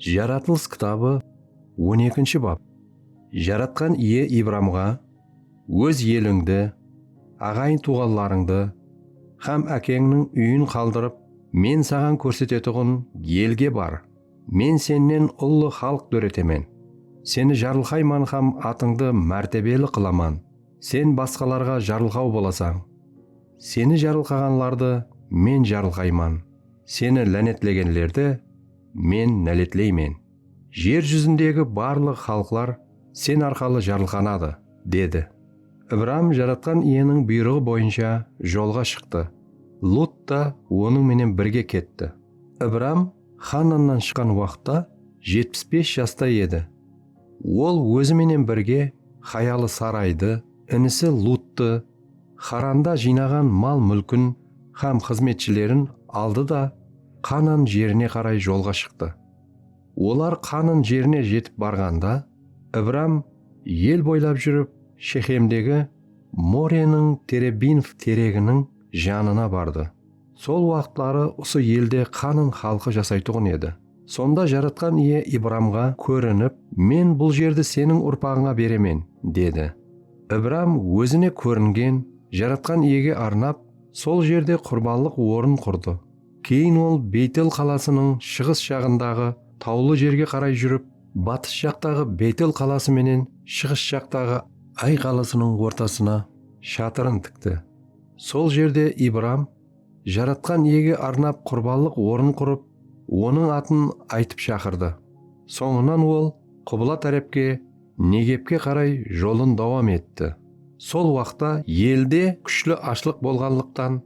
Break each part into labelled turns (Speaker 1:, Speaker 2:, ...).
Speaker 1: Jaratılıs kitabı on ekinshi bap, Jaratqan Iye Ibramǵa, Óz elińdi, aǵayın-tuwǵanlarıńdı hám ákeńniń úyin qaldırıp, Men saǵan kórsetetuǵın elge bar, Men sennen ullı xalıq dóretemen, seni jarılqayman hám atıńdı mártebeli qılaman, sen basqalarǵa jarılqaw bolasań, seni jarılqaǵanlardı Men jarılqayman. Seni lánetlegenlerdi Men náletleymen. Jer júzindegi barlıq xalıqlar sen arqalı jarılqanadı, dedi. Ibram Jaratqan Iyeniń buyrıǵı boyınsha jolǵa shıqtı, Lut ta onıń menen birge ketti. Ibram Xannannan shıqqan waqıtta jetpis bes jasta edi. Ol ózi menen birge hayalı Saraydı, inisi Luttı, Xaranda jıynaǵan mal-múlkin hám xızmetshilerin aldı da Qanan jerine qaray jolǵa shıqtı. Olar Qanan jerine jetip barǵanda, Ibram el boylap júrip Shexemdegi Moreniń terebinf tereginiń janına bardı. Sol waqıtları usı elde Qanın xalqı jasaytuǵın edi. Sonda Jaratqan Iye Ibramǵa kórinip, Men bul jerdi seniń urpaǵıńa beremen, dedi. Ibram ózine kóringen Jaratqan Iyege arnap, sol jerde qurbanlıq orın qurdı. Keyin ol Beytel qalasınıń shıǵıs jaǵındaǵı tawlı jerge qaray júrip, batıs jaqtaǵı Beytel qalası menen shıǵıs jaqtaǵı Ay qalasınıń ortasına shatırın tikti. Sol jerde Ibram Jaratqan Iyege arnap qurbanlıq ornın qurıp, Onıń atın aytıp shaqırdı. Sońınan ol qubla tárepke, Negebke qaray jolın dawam etti. Sol waqta elde kúshli ashlıq bolǵanlıqtan,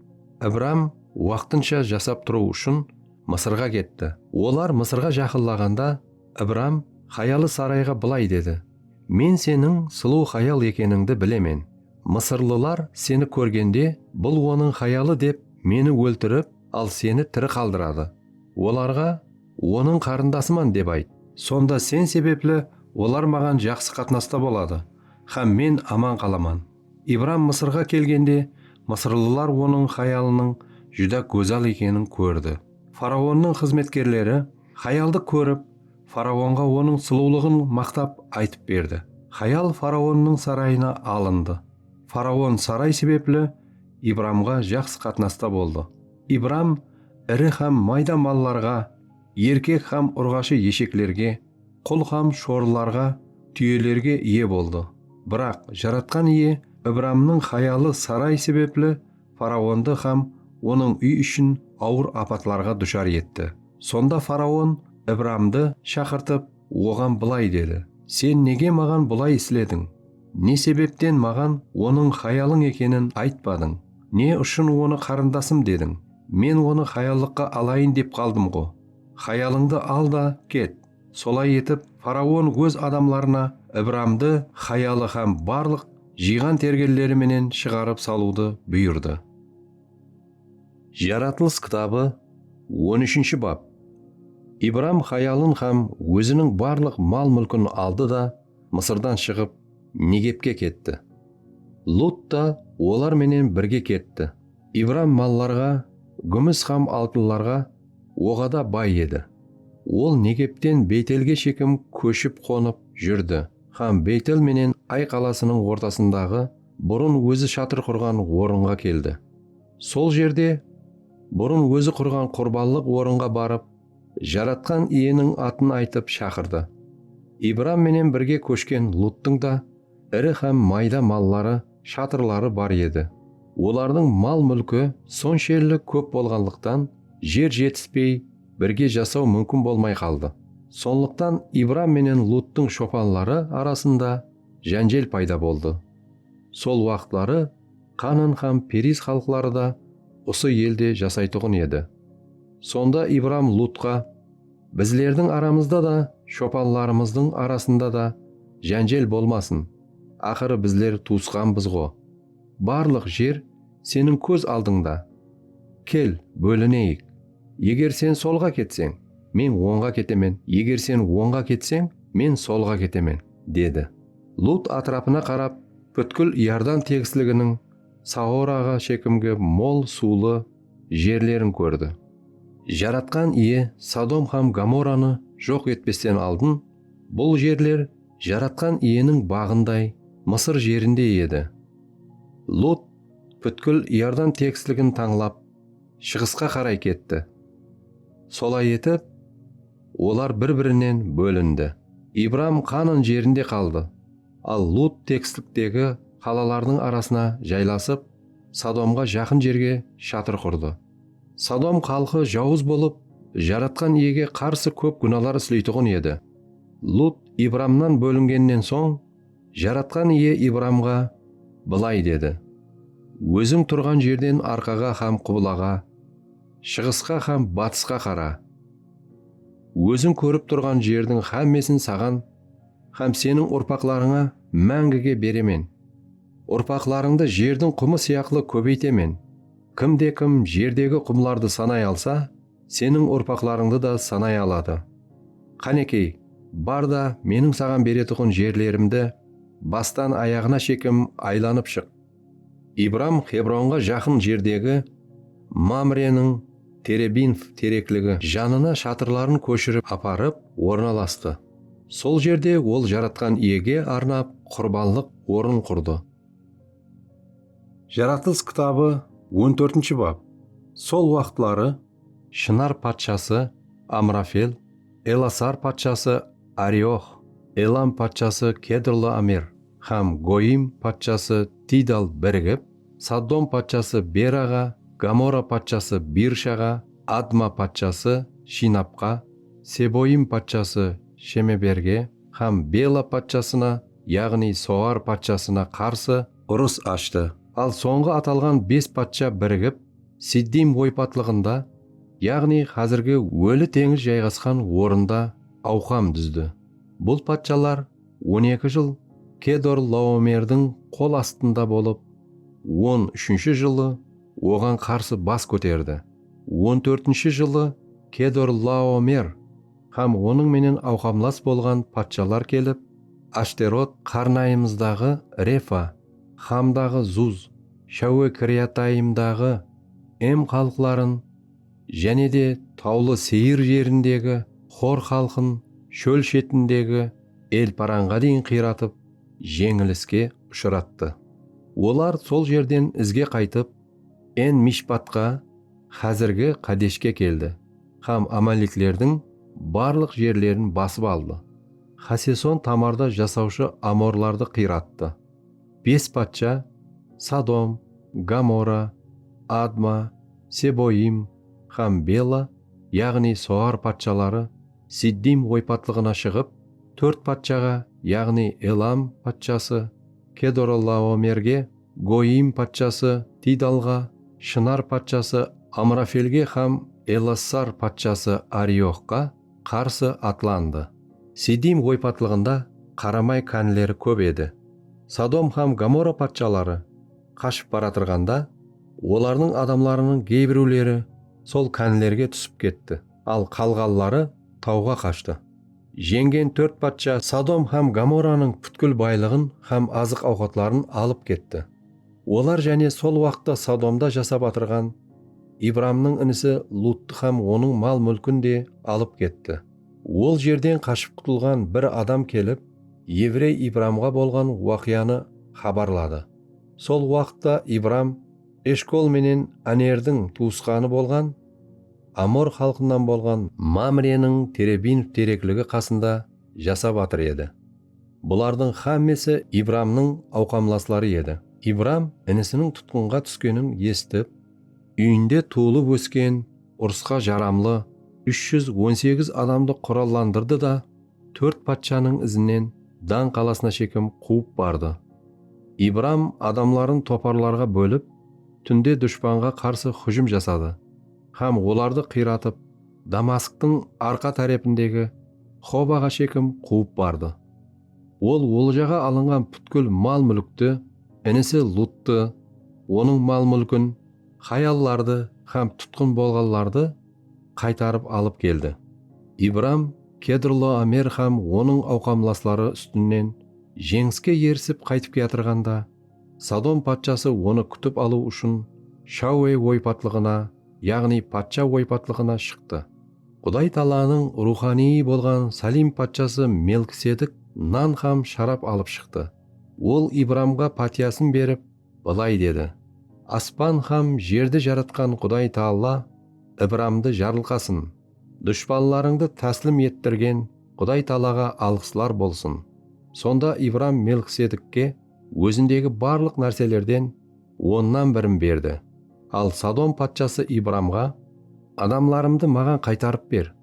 Speaker 1: Ibram waqtınsha jasap turıw ushın Mısırǵa ketti. Olar Mısırǵa jaqınlaǵanda, Ibram hayalı Sarayǵa bılay dedi, Men seniń sulıw hayal ekenińdi bilemen. Mısırlılar seni kórgende, Bul onıń hayalı dep, meni óltirip, al seni tiri qaldıradı. Olarǵa, Onıń qarındasıman, dep ayt. Sonda sen sebepli olar maǵan jaqsı qatnasta boladı hám men aman qalaman. Ibram Mısırǵa kelgende, mısırlılar onıń hayalınıń júdá gózal ekenin kórdi. Faraonnıń xızmetkerleri hayaldı kórip, Faraonǵa onıń sulıwlıǵın maqtap aytıp berdi. Hayal faraonnıń sarayına alındı. Faraon saray sebepli Ibramǵa jaqsı qatnasta boldı. Ibram iri hám mayda mallarǵa, erkek hám urǵashı esheklerge, qul hám shorılarǵa, túyelerge iye boldı. Biraq Jaratqan Iye Ibramnıń hayalı saray sebepli Faraondı hám onıń úy-ishın awır apatlarǵa dushar etti. Sonda faraon Ibramdı shaqırtıp, oǵan bılay dedi, Sen nege maǵan bulay islediń? Ne sebepten maǵan onıń hayalıń ekenin aytpadıń? Ne ushın onı qarındasım dediń? Men onı hayallıqqa alayın dep qaldım-ǵo. Hayalıńdı al da, ket! Solay etip, faraon óz adamlarına Ibramdı hayalı hám barlıq jıyǵan-tergenleri menen shıǵarıp salıwdı buyırdı. Jaratılıs kitabı on úshinshi bap Ibram hayalın hám óziniń barlıq mal-múlkin aldı da, Mısırdan shıǵıp, Negepke ketti. Lut ta olar menen birge ketti. Ibram mallarǵa, gúmis hám altınlarǵa, Oǵada bay edi. Ol Negepten Beytelge shekim kóship qonıp júrdi hám Beytel menen Ay qalasınıń ortasındaǵı burın ózi shatır qurǵan orınǵa keldi. Sol jerde burın ózi qurǵan qurbanlıq orınǵa barıp, Jaratqan Iyeniń atın aytıp shaqırdı. Ibram menen birge kóshken Luttıń da iri hám mayda malları shatırları bar edi. Olardıń mal-múlki sonshelli kóp bolǵanlıqtan, jer jetispey, birge jasaw múmkin bolmay qaldı. Sonlıqtan Ibram menen Luttıń shopanları arasında jánjel payda boldı. Sol waqıtları Qanan hám Periz xalıqları da usı elde jasaytuǵın edi. Sonda Ibram Lutqa. Bizlerdiń aramızda da, shopanlarımızdıń arasında da jánjel bolmasın, aqırı bizler tuwısqanbız-ǵo. Barlıq jer seniń kóz aldıńda. Kel, bólineyik. Eger sen solǵa ketseń, men ońǵa ketemen, eger sen ońǵa ketseń, men solǵa ketemen, dedi. Lut átirapına qarap, pútkil Iordan tegisliginiń Saoraǵa shekimgi mol suwlı jerlerin kórdi. Jaratqan Iye Sodom hám Gomoranı joq etpesten aldın bul jerler Jaratqan Iyeniń baǵınday Mısır jerinde edi. Lut pútkil Iordan teksligin tańlap, shıǵısqa qaray ketti. Solay etip, olar bir-birinen bólindi. Ibram Qanan jerinde qaldı, al Lut teksliktegi qalalardıń arasına jaylasıp, Sodomǵa jaqın jerge shatır qurdı. Sodom xalqı jawız bolıp, Jaratqan Iyege qarsı kóp gúnalar isleytuǵın edi. Lut Ibramnan bólingennen soń, Jaratqan Iye Ibramǵa bılay dedi, Óziń turǵan jerden arqaǵa hám qublaǵa, shıǵısqa hám batısqa qara. Óziń kórip turǵan jerdiń hámmesin saǵan hám seniń urpaqlarıńa máńgige beremen. Urpaqlarıńdı jerdiń qumı sıyaqlı kóbeytemen. Kim de kim jerdegi qumlardı sanay alsa, seniń urpaqlarıńdı da sanay aladı. Qánekey, bar da, meniń saǵan beretuǵın jerlerimdi bastan ayaǵına shekem aylanıp shıq. Ibram Xebronǵa jaqın jerdegi Mamreniń terebinf terekligi janına shatırların kóshirip aparıp ornalastı. Sol jerde ol Jaratqan Iyege arnap qurbanlıq orın qurdı. Jaratılıs kitabı on tórtinshi bap Sol waqıtları Shınar patshası Amrafel, Elasar patshası Ariox, Elam patshası Kedrlaomer hám Goyim patshası Tidal birigip, Soddom patshası Beraǵa, Gamora patshası Birshaǵa, Adma patshası Shinapqa, Seboim patshası Shemeberge hám Bela patshasına, yaǵnıy Soar patshasına qarsı urıs ashtı. Al sońǵı atalǵan bes patsha birigip Siddim oypatlıǵında, yaǵnıy házirgi Óli teńiz jayǵasqan orında awqam dúzdi. Bul patshalar on eki jıl Kedorlaomerdiń qol astında bolıp, on úshinshi jılı oǵan qarsı bas kóterdi. On tórtinshi jılı Kedorlaomer hám onıń menen awqamlas bolǵan patshalar kelip, Ashterot, qarnayımızdaǵı Refa, Xamdaǵı Zuz, Shawe Kiriatayimdaǵı Em xalıqların, jáne de Tawlı Seyir jerindegi Xor xalqın shól shetindegi El-Paranǵa deyin qıyratıp, jeńiliske ushırattı. Olar sol jerden izge qaytıp, En-Mishpatqa, xázirgi Qadeshke keldi hám amaleklerdiń barlıq jerlerin basıp aldı. Xaseson Tamarda jasawshı amorlardı qıyrattı. Bes patsha, Sodom, Gomora, Adma, Seboim hám Bela, yaǵnıy Soar patshaları Siddim oypatlıǵına shıǵıp, tórt patshaǵa, yaǵnıy Elam patshası Kedorlaomerge, Goyim patshası Tidalǵa, Shınar patshası Amrafelge hám Elassar patshası Arioxqa qarsı atlandı. Sidim oypatlıǵında qaramay kánleri kóp edi. Sodom hám Gomora patshaları qashıp baratırǵanda, olardıń adamlarınıń geybiriwleri sol kánlerge túsip ketti, al qalǵanları tawǵa qashtı. Jeńgen tórt patsha Sodom hám Gomoranıń pútkil baylıǵın hám azıq-awqatların alıp ketti. Olar jáne sol waqıtta Sodomda jasap atırǵan Ibramnıń inisi Luttı hám onıń mal-múlkin de alıp ketti. Ol jerden qashıp qutılǵan bir adam kelip, evrey Ibramǵa bolǵan waqıyanı xabarladı. Sol waqıtta Ibram Eshkol menen Anerdiń tuwısqanı bolǵan, amor xalqınan bolǵan Mamreniń terebinov terekligi qasında jasap atır edi. Bulardıń xámmesi Ibramnıń awqamlasları edi. Ibram inisiniń tutqınǵa túskenin esitip. Úyinde tuwılıp ósken, urısqa jaramlı úsh júz on segiz adamdı qurallandırdı da, tórt patshanıń izinen Dan qalasına shekem quwıp bardı. Ibram adamların toparlarǵa bólip, túnde dushpanǵa qarsı hújim jasadı. hám olardı qıyratıp, Damasktın arqa tárepindegi Xobaǵa shekim quwıp bardı. Ol oljaǵa alınǵan pútkil mal-múlkti, inisi Luttı, onıń mal-múlkin, hayallardı hám tutqın bolǵanlardı qaytarıp alıp keldi. Ibram Kedrloamer hám onıń awqamlasları ústinen jeńiske erisip qaytıp kiyatırǵanda, Sodom patshası onı kútip alıw ushın Shauwe oypatlıǵına, yaǵnıy patsha oypatlıǵına shıqtı. Quday taalanıń ruwxanıyı bolǵan Salim patshası Melkisedik nan hám sharap alıp shıqtı. Ol Ibramǵa pátiyasın berip, bılay dedi, Aspan hám jerdi jaratqan Quday Taala Ibramdı jarılqasın! Dushpanlarıńdı táslim ettirgen Quday Taalaǵa alǵıslar bolsın! Sonda Ibram Melkisedikke. ózindegi barlıq nárselerden onnan birin berdi. Al Sodom patshası Ibramǵa, Adamlarımdı maǵan qaytarıp ber,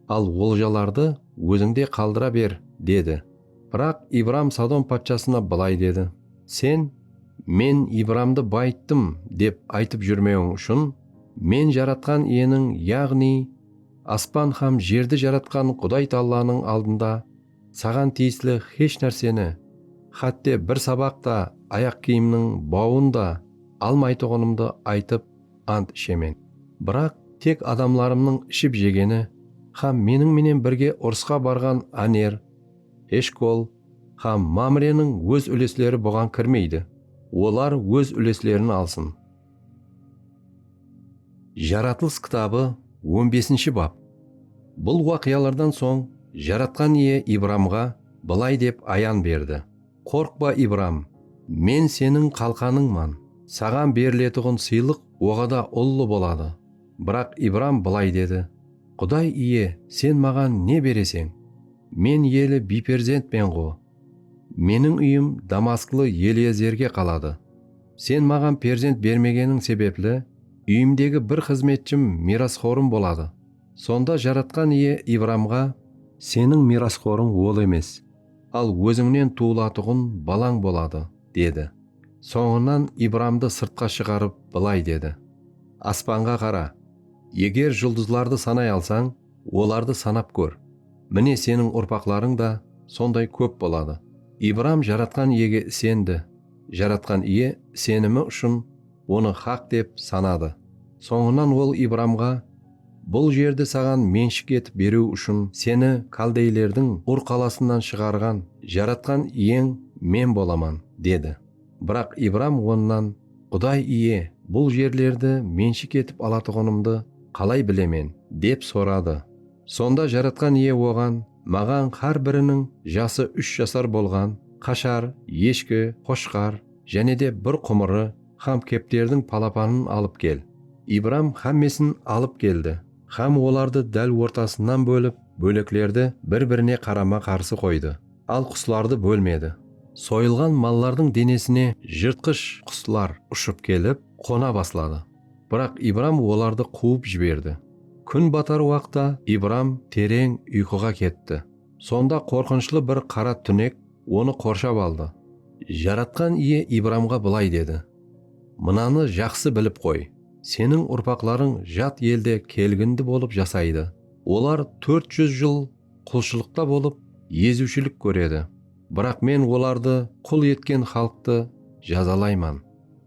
Speaker 1: al oljalardı ózińde qaldıra ber, dedi. Biraq Ibram Sodom patshasına bılay dedi, Sen, Men Ibramdı bayıttım, dep aytıp júrmewiń ushın, Men Jaratqan Iyeniń, yaǵnıy, aspan hám jerdi jaratqan Quday Taallanıń aldında Saǵan tiyisli xesh nárseni, xátte bir sabaq ta, ayaq kiyimniń bawın da almaytuǵınımdı aytıp ant ishemen. Biraq tek adamlarımnıń iship-jegeni hám meniń menen birge urısqa barǵan Áner, Eshkol hám Mámreniń óz úlesleri buǵan kirmeydi. Olar óz úleslerin alsın. Jaratılıs kitabı on besinshi bap. Bul waqıyalardan soń Jaratqan Iye Ibramǵa bılay dep ayan berdi, Qorqpa, Ibram, Men seniń qalqanıńman, saǵan beriletuǵın sıylıq oǵada ullı boladı. Biraq Ibram bılay dedi, Quday Iye, Sen maǵan ne bereseń? Men eli biyperzentmen-ǵo. Meniń úyim damasklı Eliezerge qaladı. Sen maǵan perzent bermegeniń sebepli, úyimdegi bir xızmetshim miyrasxorım boladı. Sonda Jaratqan Iye Ibramǵa. Seniń miyrasxorıń ol emes, al ózińnen tuwılatuǵın balań boladı, dedi. Sońınan Ibramdı sırtqa shıǵarıp, bılay dedi, Aspanǵa qara, eger juldızlardı sanay alsań, olardı sanap kór. Mine, seniń urpaqlarıń da sonday kóp boladı. Ibram Jaratqan Iyege isendi. Jaratqan Iye senimi ushın onı haq dep sanadı. Sońınan Ol Ibramǵa, Bul jerdi saǵan menshik etip beriw ushın seni kaldeylerdiń Ur qalasınan shıǵarǵan Jaratqan Iyeń Men bolaman, dedi. Biraq Ibram Onnan, Quday Iye, bul jerlerdi menshik etip alatuǵınımdı qalay bilemen? dep soradı. Sonda Jaratqan Iye oǵan, Maǵan xár biriniń jası úsh jasar bolǵan qashar, eshki, qoshqar, jáne de bir qumırı xám kepterdiń palapanın alıp kel. Ibram xámmesin alıp keldi xám olardı dál ortasınan bólip, bóleklerdi bir-birine qarama-qarsı qoydı, al quslardı bólmedi. Soyılǵan mallardıń denesine jırtqısh quslar ushıp kelip, qona basladı. Biraq Ibram olardı quwıp jiberdi. Kún batar waqta Ibram tereń uyqıǵa ketti. Sonda qorqınıshlı bir qara túnek onı qorshap aldı. Jaratqan Iye Ibramǵa bılay dedi, Mınanı jaqsı bilip qoy, seniń urpaqlarıń jat elde kelgindi bolıp jasaydı. Olar tórt júz jıl qulshılıqta bolıp, eziwshilik kóredi. Biraq Men olardı qul etken xalıqtı jazalayman.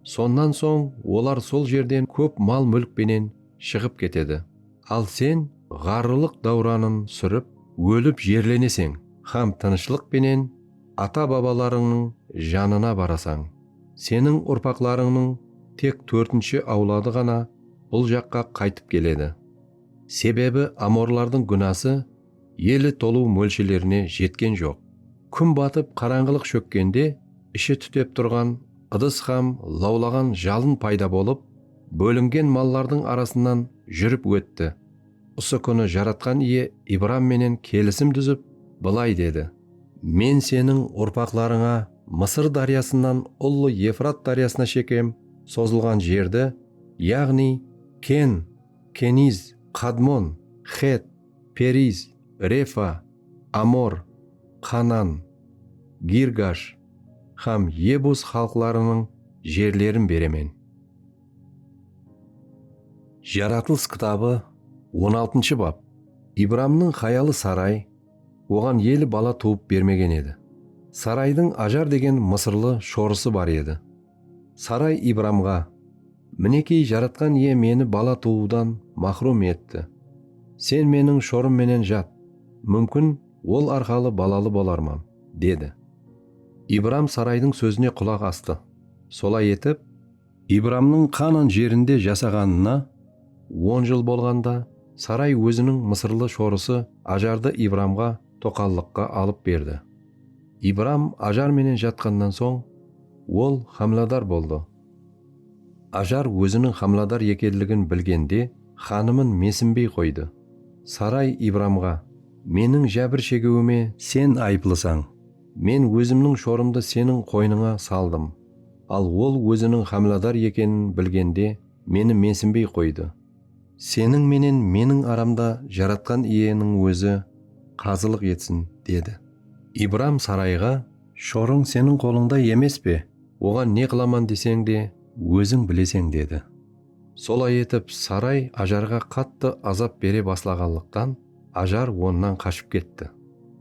Speaker 1: Sonnan soń olar sol jerden kóp mal-múlk penen shıǵıp ketedi. Al sen ǵarrılıq dáwranın súrip, ólip jerleneseń hám tınıshlıq penen ata-babalarıńnıń janına barasań. Seniń urpaqlarıńnıń tek tórtinshi awladı ǵana bul jaqqa qaytıp keledi. Sebebi amorlardıń gúnası Eli tolıw mólshelerine jetken joq. Kún batıp qarańǵılıq shókkende ishi tútep turǵan ıdıs hám lawlaǵan jalın payda bolıp, bólingen mallardıń arasınan júrip ótti. Usı kúni Jaratqan Iye Ibram menen kelisim dúzip, bılay dedi. Men seniń urpaqlarıńa Mısır dáryasınan ullı Efrat dáryasına shekem sozılǵan jerdi, yaǵnıy Ken, Keniz, Qadmon, Xet, Periz, Refa, Amor, Qanan, Girgash hám Yebus xalıqlarınıń jerlerin beremen. Jaratılıs kitabı on altıncı bap. Ibramnıń hayalı Saray oǵan eli bala tuwıp bermegen edi. Saraydıń Ajar degen mısırlı shorısı bar edi. Saray Ibramǵa, Minekey, Jaratqan Iye meni bala tuwıwdan maxrum etti. Sen meniń shorım menen jat, múmkin, ol arqalı balalı bolarman, dedi. Ibram Saraydıń sózine qulaq astı. Solay etip. Ibramnıń Qanan jerinde jasaǵanına on jıl bolǵanda, Saray óziniń mısırlı shorısı Ajardı Ibramǵa toqallıqqa alıp berdi. Ibram Ajar menen jatqannan soń, ol hámiladar boldı. Ajar óziniń hámiladar ekenligin bilgende, xanımın mesinbey qoydı. Saray Ibramǵa, Meniń jábir shegiwime sen ayıplısań. Men ózimniń shorımdı seniń qoynıńa saldım, al ol óziniń hámiladar ekenin bilgende, meni mesinbey qoydı. Seniń menen meniń aramda Jaratqan Iyeniń Ózi qazılıq etsin, dedi. Ibram Sarayǵa, Shorıń seniń qolıńda emes pe? Oǵan ne qılaman deseń de, óziń bileseń, dedi. Solay etip, Saray Ajarǵa qattı azap bere baslaǵanlıqtan, Ajar onnan qashıp ketti.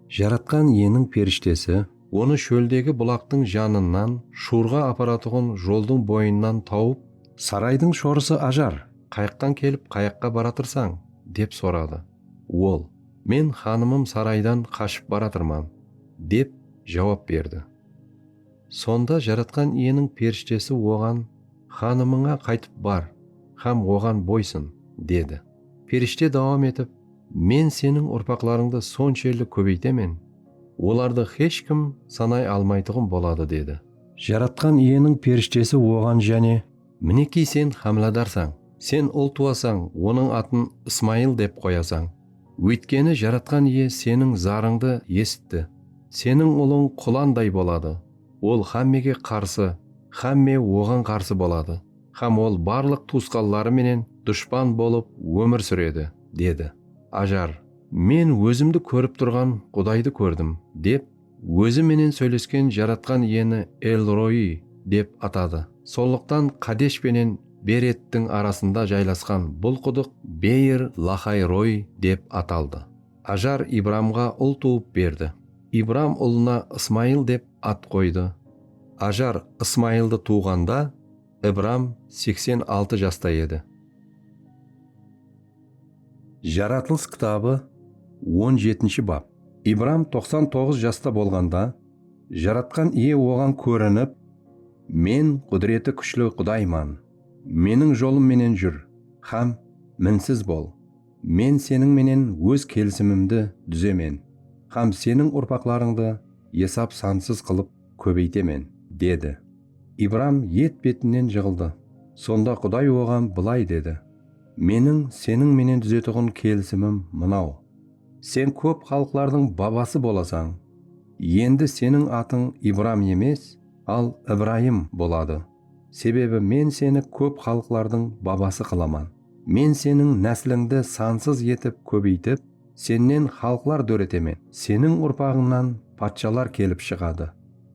Speaker 1: Jaratqan Iyeniń perishtesi Onı shóldegi bulaqtıń janınan, Shurǵa aparatuǵın joldıń boyınan tawıp. Saraydıń shorısı Ajar, qayaqtan kelip, qayaqqa baratırsań? dep soradı. Ol, Men xanımım saraydan qashıp baratırman, dep jawap berdi. Sonda Jaratqan Iyeniń perishtesi oǵan. Xanımıńa qaytıp bar hám oǵan boysın, dedi. Perishte dawam etip, Men seniń urpaqlarıńdı sonshelli kóbeytemen, olardı hesh kim sanay almaytuǵın boladı, dedi. Jaratqan Iyeniń perishtesi oǵan jáne. Minekey sen hámiladarsań, sen ul tuwasań, onıń atın Ismayıl dep qoyasań. Óytkeni Jaratqan Iye seniń zarıńdı esitti, seniń ulıń qulanday boladı. Ol xámmege qarsı, xámme oǵan qarsı boladı hám ol barlıq tuwısqanları menen dushpan bolıp ómir súredi, dedi. Ajar, Men ózimdi kórip turǵan Qudaydı kórdim, dep ózi menen sóylesken Jaratqan Iyeni El-Roiy dep atadı. Sonlıqtan Qadesh penen Berettiń arasında jaylasqan bul qudıq Beyr-Laxay-Roiy dep ataldı. Ajar Ibramǵa ul tuwıp berdi. Ibram ulına Ismayıl dep at qoydı. Ajar Ismayıldı tuwǵanda, Ibram seksen altı jasta edi. Jaratılıs kitabı on jetinshi bap. Ibram toqsan toǵız jasta bolǵanda, Jaratqan Iye oǵan kórinip, Men Qúdireti Kúshli Qudayman. Meniń jolım menen júr hám minsiz bol. Men seniń menen Óz kelisimimdi dúzemen hám seniń urpaqlarıńdı esap-sansız qılıp kóbeytemen, dedi. Ibram et-betinen jıǵıldı. Sonda Quday oǵan bılay dedi, Meniń seniń menen dúzetuǵın kelisimim mınaw, Sen kóp xalıqlardıń babası bolasań. Endi seniń atıń Ibram emes, al Ibrayım boladı. Sebebi Men seni kóp xalıqlardıń babası qılaman. Men seniń náslińdi sansız etip kóbeytip, sennen xalıqlar dóretemen, seniń urpaǵıńnan patshalar kelip shıǵadı.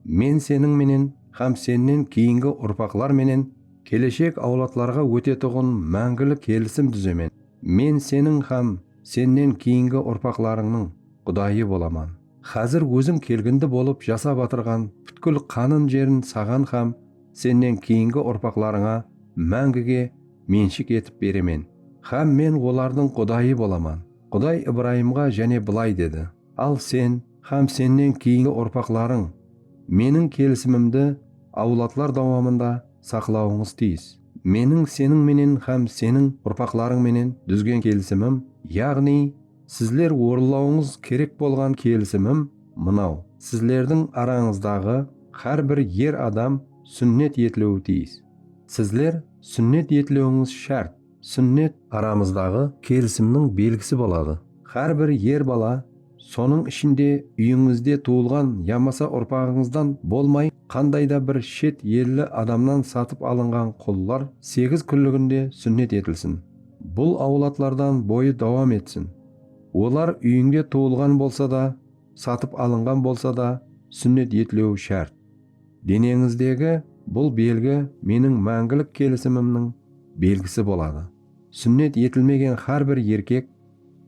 Speaker 1: Men seniń menen hám sennen keyingi urpaqlar menen keleshek awladlarǵa ótetuǵın máńgili kelisim dúzemen. Men seniń hám sennen keyingi urpaqlarıńnıń Qudayı bolaman. Xázir ózim kelgindi bolıp jasap atırǵan pútkil qanın jerin saǵan hám sennen keyingi urpaqlarıńa máńgige menshik etip beremen hám men olardıń Qudayı bolaman. Quday Ibrayımǵa jáne bılay dedi, Al sen hám sennen keyingi urpaqlarıń Meniń kelisimimdi awladlar dawamında saqlawıńız tiyis. Meniń seniń menen hám seniń urpaqlarıń menen dúzgen kelisimim, yaǵnıy, Sizler orınlawıńız kerek bolǵan kelisimim mınaw, sizlerdiń arańızdaǵı xár bir er adam súnnet etiliwi tiyis. Sizler súnnet etiliwińiz shárt, súnnet, aramızdaǵı kelisimniń belgisi boladı, xár bir er bala, sonıń ishinde úyińizde tuwılǵan yamasa urpaǵıńızdan bolmay qanday da bir shet elli adamnan satıp alınǵan qullar segiz kúnliginde súnnet etilsin. Bul awladlardan boyı dawam etsin. Olar úyińde tuwılǵan bolsa da, satıp alınǵan bolsa da súnnet etlewi shárt. Deneńizdegi bul belgi meniń máńgilik kelisimimniń belgisi boladı. Súnnet etilmegen hár bir erkek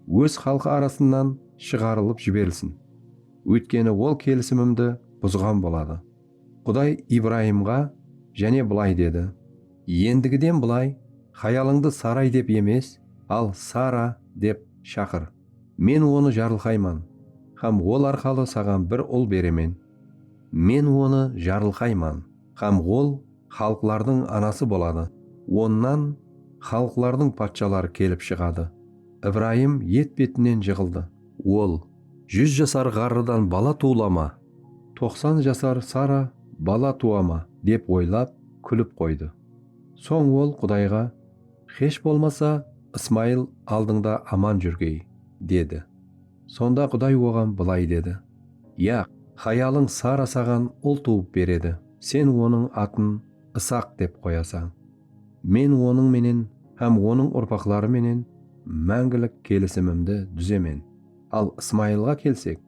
Speaker 1: óz xalqı arasınan shıǵarılıp jiberilsin. Óytkeni ol kelisimimdi buzǵan boladı. Quday Ibrayımǵa jáne bılay dedi. Endigiden bılay, hayalıńdı Saray dep emes, al Sara dep shaqır. Men onı jarılqayman hám ol arqalı saǵan bir ul beremen. Men onı jarılqayman hám ol xalıqlardıń anası boladı, onnan xalıqlardıń patshaları kelip shıǵadı. Ibrayım et-betinen jıǵıldı. Ol, Júz jasar ǵarrıdan bala tuwılama? Toqsan jasar Sara bala tuwa ma? dep oylap, kúlip qoydı. Soń ol Qudayǵa, Xesh bolmasa, Ismayıl aldıńda aman júrgey, dedi. Sonda Quday oǵan bılay dedi, Yaq, hayalıń Sara saǵan ul tuwıp beredi, sen onıń atın Isaq dep qoyasań. Men onıń menen hám onıń urpaqları menen máńgilik kelisimimdi dúzemen. Al Ismayılǵa kelsek,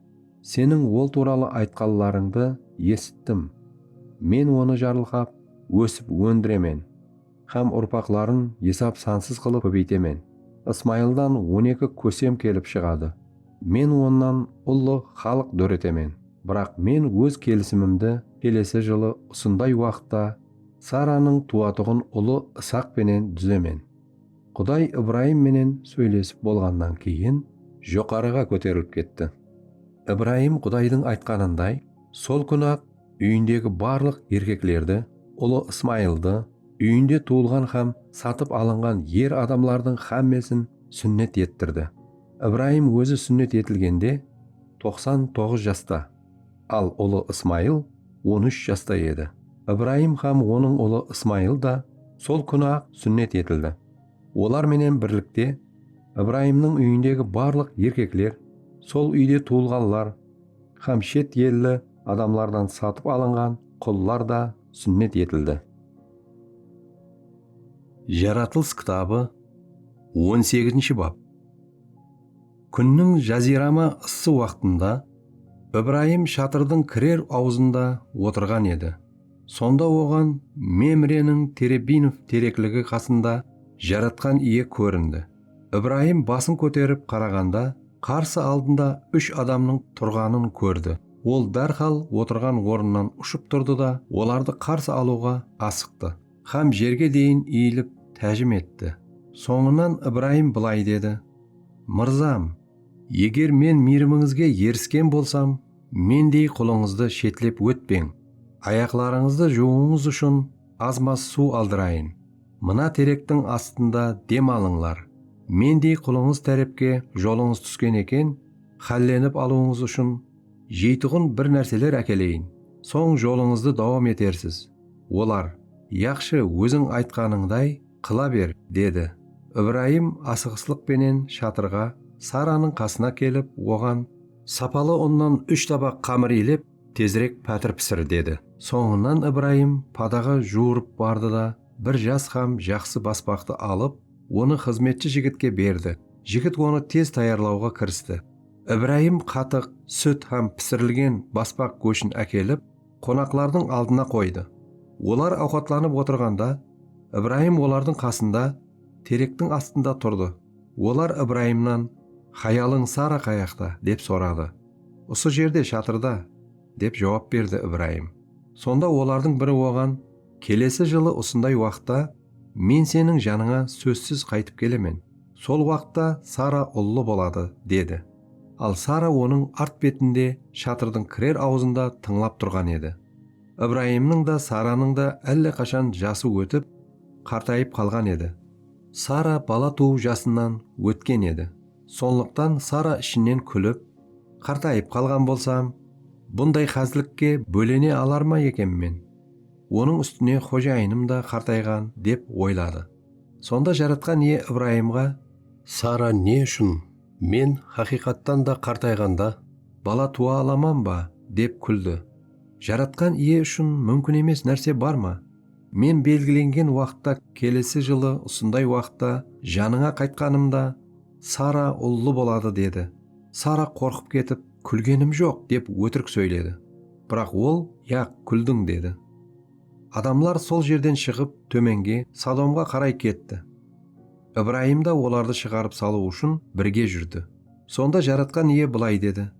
Speaker 1: Seniń ol tuwralı aytqanlarıńdı esittim. Men onı jarılqap, ósip óndiremen hám urpaqların esap-sansız qılıp kóbeytemen. Ismayıldan on eki kósem kelip shıǵadı. Men onnan ullı xalıq dóretemen. Biraq men óz kelisimimdi kelesi jılı usınday waqıtta Saranıń tuwatuǵın ulı Isaq penen dúzemen. Quday Ibrayım menen sóylesip bolǵannan keyin joqarıǵa kóterilip ketti. Ibrayım Qudaydıń aytqanınday, sol kún-aq úyindegi barlıq erkeklerdi, ulı Ismayıldı, úyinde tuwılǵan hám satıp alınǵan er adamlardıń hámmesin súnnet ettirdi. Ibrayım ózi súnnet etilgende toqsan toǵız jasta. Al, ulı Ismayıl on úsh jasta edi. Ibrayım hám onıń ulı Ismayıl da sol kúni-aq súnnet etildi. Olar menen birlikte Ibrayımnıń úyindegi barlıq erkekler, sol úyde tuwılǵanlar hám shet elli adamlardan satıp alınǵan qullar da súnnet etildi. Jaratılıs kitabı on segizinshi bap. Kúnniń jazirama ıssı waqtında Ibrayım shatırdıń kirer awzında otırǵan edi. Sonda oǵan Memreniń Terebinov terekligi qasında jaratqan iye kórindi. Ibrayım basın kóterip qaraǵanda qarsı aldında úsh adamnıń turǵanın kórdi. Ol dárhal otırǵan ornınan ushıp turdı da, olardı qarsı alıwǵa asıqtı. Hám jerge deyin iyilip tájim etti. Sońınan Ibrayım bılay dedi, Mırzam! Eger men miyrimińizge erisken bolsam, mendey qulıńızdı shetlep ótpeń. Ayaqlarıńızdı juwıwıńız ushın az-maz suw aldırayın. Mına terektiń astında dem alıńlar. Mendey qulıńız tárepke jolıńız túsken eken, hállenip alıwıńız ushın jeytuǵın bir nárseler ákeleyin. Soń jolıńızdı dawam etersiz. Olar, Yaqshı, óziń aytqanıńday qıla ber, dedi. Ibrayım asıǵıslıq penen shatırǵa, Saranıń qasına kelip, oǵan, Sapalı unnan úsh tabaq qamır iylep, tezirek pátir pisir, dedi. Sońınan Ibrayım padaǵa juwırıp bardı da, bir jas hám jaqsı baspaqtı alıp, onı xızmetshi jigitke berdi. Jigit onı tez tayarlawǵa kiristi. Ibrayım qatıq, sút hám pisirilgen baspaq góshin ákelip, qonaqlardıń aldına qoydı. Olar awqatlanıp otırǵanda, Ibrayım olardıń qasında terektiń astında turdı. Olar Ibrayımnan, Hayalıń Sara qayaqta? dep soradı. Usı jerde, shatırda, dep juwap berdi Ibrayım. Sonda olardıń biri oǵan, Kelesi jılı usınday waqıtta men seniń janıńa sózsiz qaytıp kelemen. Sol waqıtta Sara ullı boladı, dedi. Al Sara onıń art betinde, shatırdıń kirer awzında tıńlap turǵan edi. Ibrayımnıń da, Saranıń da álle qashan jası ótip, qartayıp qalǵan edi. Sara bala tuwıw jasınan ótken edi. Sonlıqtan Sara ishinen kúlip, Qartayıp qalǵan bolsam, bunday xázlikke bólene alar ma eken men? Onıń ústine xojayınım da qartayǵan, dep oyladı. Sonda Jaratqan Iye Ibrayımǵa. Sara ne ushın, Men haqıyqattan da qartayǵanda, bala tuwa alaman ba? dep kúldi. Jaratqan Iye ushın múmkin emes nárse bar ma? Men belgilengen waqıtta kelesi jılı usınday waqıtta janıńa qaytqanımda, Sara ullı boladı, dedi. Sara qorqıp ketip, Kúlgenim joq, dep ótirik sóyledi. Biraq ol, Yaq, kúldiń, dedi. Adamlar sol jerden shıǵıp, tómenge, Sodomǵa qaray ketti. Ibrayım da olardı shıǵarıp salıw ushın birge júrdi. Sonda Jaratqan Iye bılay dedi,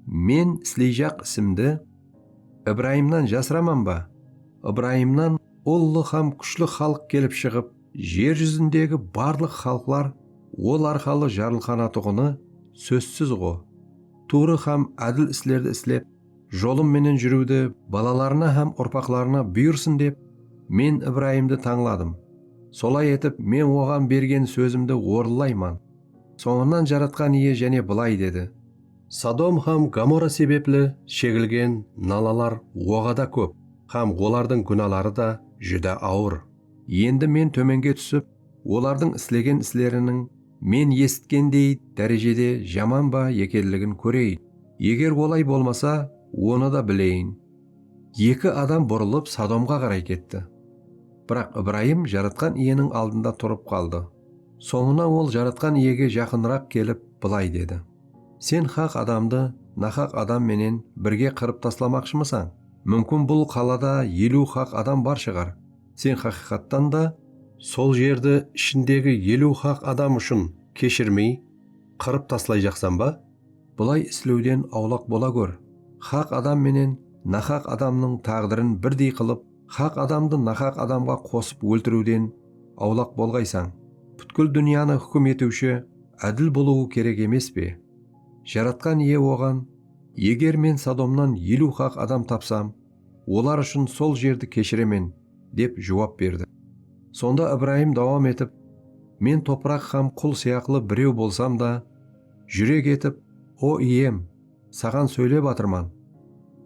Speaker 1: Men isleyjaq isimdi Ibrayımnan jasıraman ba? Ibrayımnan ullı hám kúshli xalıq kelip shıǵıp, jer júzindegi barlıq xalıqlar ol arqalı jarılqanatuǵını sózsiz-ǵo. Tuwrı hám ádil islerdi islep, jolım menen júriwdi balalarına hám urpaqlarına buyırsın dep, Men Ibrayımdı tańladım. Solay etip, Men oǵan bergen sózimdi orınlayman. Sońınan Jaratqan Iye jáne bılay dedi. Sodom hám Gomora sebepli shegilgen nalalar oǵada kóp hám olardıń gúnaları da júdá awır. Endi Men tómenge túsip, Olardıń islegen isleriniń men esitkendey dárejede jaman ba ekenligin kóreyin. Eger olay bolmasa, onı da bileyin. Eki adam burılıp Sodomǵa qaray ketti. Biraq Ibrayım Jaratqan Iyeniń aldında turıp qaldı. Sońına ol Jaratqan Iyege jaqınıraq kelip, bılay dedi, Sen haq adamdı nahaq adam menen birge qırıp taslamaqshımısań? Múmkin bul qalada eliw haq adam bar shıǵar. Sen haqıyqattan da sol jerdi ishindegi eliw haq adam ushın keshirmey, qırıp taslay jaqsan ba? Bılay islewden awlaq bola gór. Haq adam menen nahaq adamnıń táǵdirin birdey qılıp, haq adamdı nahaq adamǵa qosıp óltiriwden awlaq bolǵaysań. Pútkil dúnyanı húkim etiwshi ádil bolıwı kerek emes pe? Jaratqan Iye oǵan, Eger Men Sodomnan eliw haq adam tapsam, Olar ushın sol jerdi keshiremen, dep juwap berdi. Sonda Ibrayım dawam etip, Men topıraq hám qul sıyaqlı birew bolsam da, júrek etip, O Iyem, Saǵan sóylep atırman.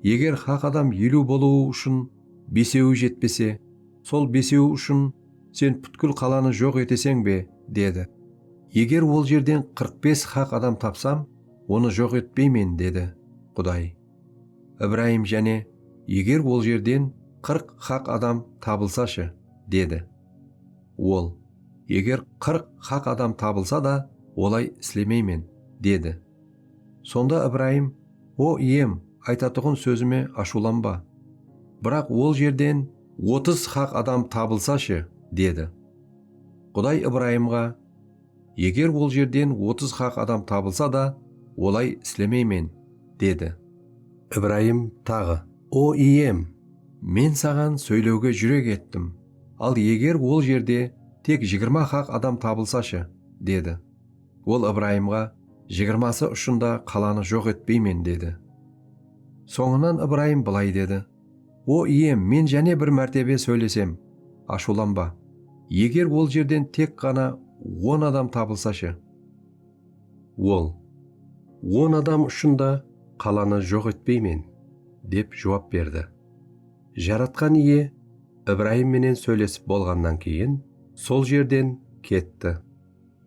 Speaker 1: Eger haq adam eliw bolıwı ushın besewi jetpese, sol besewi ushın Sen pútkil qalanı joq eteseń be? dedi. Eger ol jerden qırq bes haq adam tapsam, onı joq etpeymen, dedi. Quday. Ibrayım jáne, Eger ol jerden qırq haq adam tabılsashı? dedi. Ol, Eger qırq haq adam tabılsa da, olay islemeymen, dedi. Sonda Ibrayım, O, Iyem, aytatuǵın sózime ashıwlanba. Biraq ol jerden otız haq adam tabılsashı, dedi. Quday Ibrayımǵa. Eger ol jerden otız haq adam tabılsa da, olay islemeymen, dedi. Ibrayım taǵı, O Iyem! Men Saǵan sóylewge júrek ettim, al eger ol jerde tek jigirma haq adam tabılsashı, dedi. Ol Ibrayımǵa, Jigirması ushın da qalanı joq etpeymen, dedi. Sońınan Ibrayım bılay dedi. O Iyem, men jáne bir mártebe sóylesem, ashıwlanba. Eger ol jerden tek ǵana on adam tabılsashı? Ol, On adam ushın da qalanı joq etpeymen, dep juwap berdi. Jaratqan Iye Ibrayım menen sóylesip bolǵannan keyin sol jerden ketti.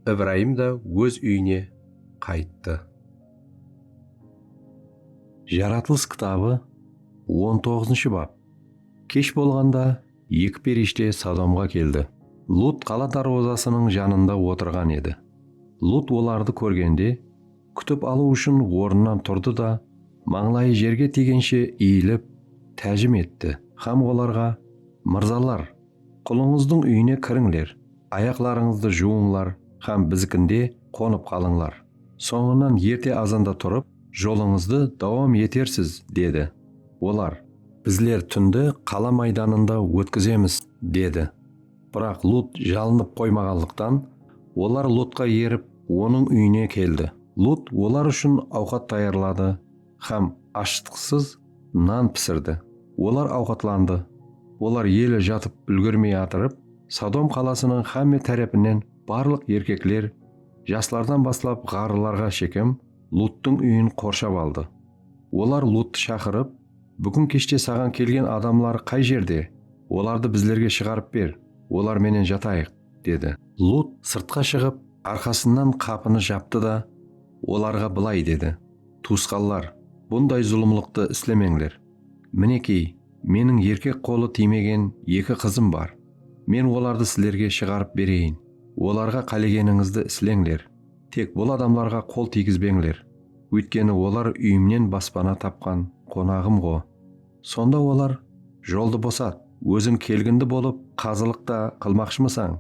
Speaker 1: Ibrayım da óz úyine qayttı. Jaratılıs kitabı on toǵızınshı bap Kesh bolǵanda eki perishte Sodomǵa keldi. Lut qala darwazasınıń janında otırǵan edi. Lut olardı kórgende, kútip alıw ushın ornınan turdı da, mańlayı jerge tiygenshe iyilip, tájim etti hám olarǵa, Mırzalar, Qulıńızdıń úyine kirińler, ayaqlarıńızdı juwıńlar hám bizikinde qonıp qalıńlar. Sońınan erte azanda turıp, jolıńızdı dawam etersiz, dedi. Olar, Bizler túndi qala maydanında ótkizemiz, dedi. Biraq Lut jalınıp qoymaǵanlıqtan, olar Lotqa erip, onıń úyine keldi. Lut olar ushın awqat tayarladı hám ashıtqısız nan pisirdi. Olar awqatlandı. Olar eli jatıp úlgermey atırıp, Sodom qalasınıń hámme tárepinen barlıq erkekler, jaslardan baslap ǵarrılarǵa shekem, Luttıń úyin qorshap aldı. Olar Luttı shaqırıp, Búgin keshte saǵan kelgen adamlar qay jerde? Olardı bizlerge shıǵarıp ber, olar menen jatayıq, dedi. Lutt sırtqa shıǵıp, arqasınan qapını japtı da, olarǵa bılay dedi. Tuwısqanlar, bunday zulımlıqtı islemeńler. Minekey, meniń erkek qolı tiymegen eki qızım bar. Men olardı sizlerge shıǵarıp bereyin. Olarǵa qálegenińizdi isleńler. Tek bul adamlarǵa qol tiygizbeńler. Óytkeni olar úyimnen baspana tapqan qonaǵım-ǵo. Sonda olar, Joldı bosat, óziń kelgindi bolıp qazılıq ta qılmaqshımısań?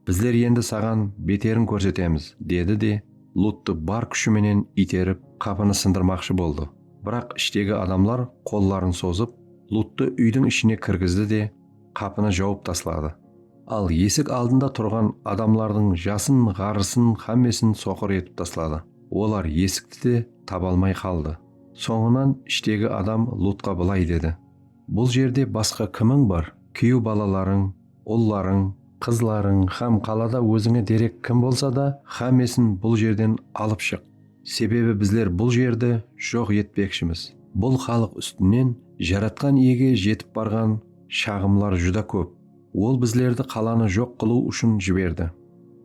Speaker 1: Bizler endi saǵan beterin kórsetemiz, dedi de, Luttı bar kúshi menen iyterip, qapını sındırmaqshı boldı. Biraq ishtegi adamlar qolların sozıp, Luttı úydiń ishine kirgizdi de, qapını jawıp tasladı. Al, esik aldında turǵan adamlardıń jasın, ǵarrısın, xámmesin soqır etip tasladı. Olar esikti de taba almay qaldı. Sońınan ishtegi adam Lutqa bılay dedi, Bul jerde basqa kimiń bar? Kúyew balalarıń, ullarıń, qızlarıń hám qalada ózińe derek kim bolsa da, hámmesin bul jerden alıp shıq, sebebi bizler bul jerdi joq etpekshimiz. Bul xalıq ústinen Jaratqan Iyege jetip barǵan shaǵımlar júdá kóp. Ol bizlerdi qalanı joq qılıw ushın jiberdi.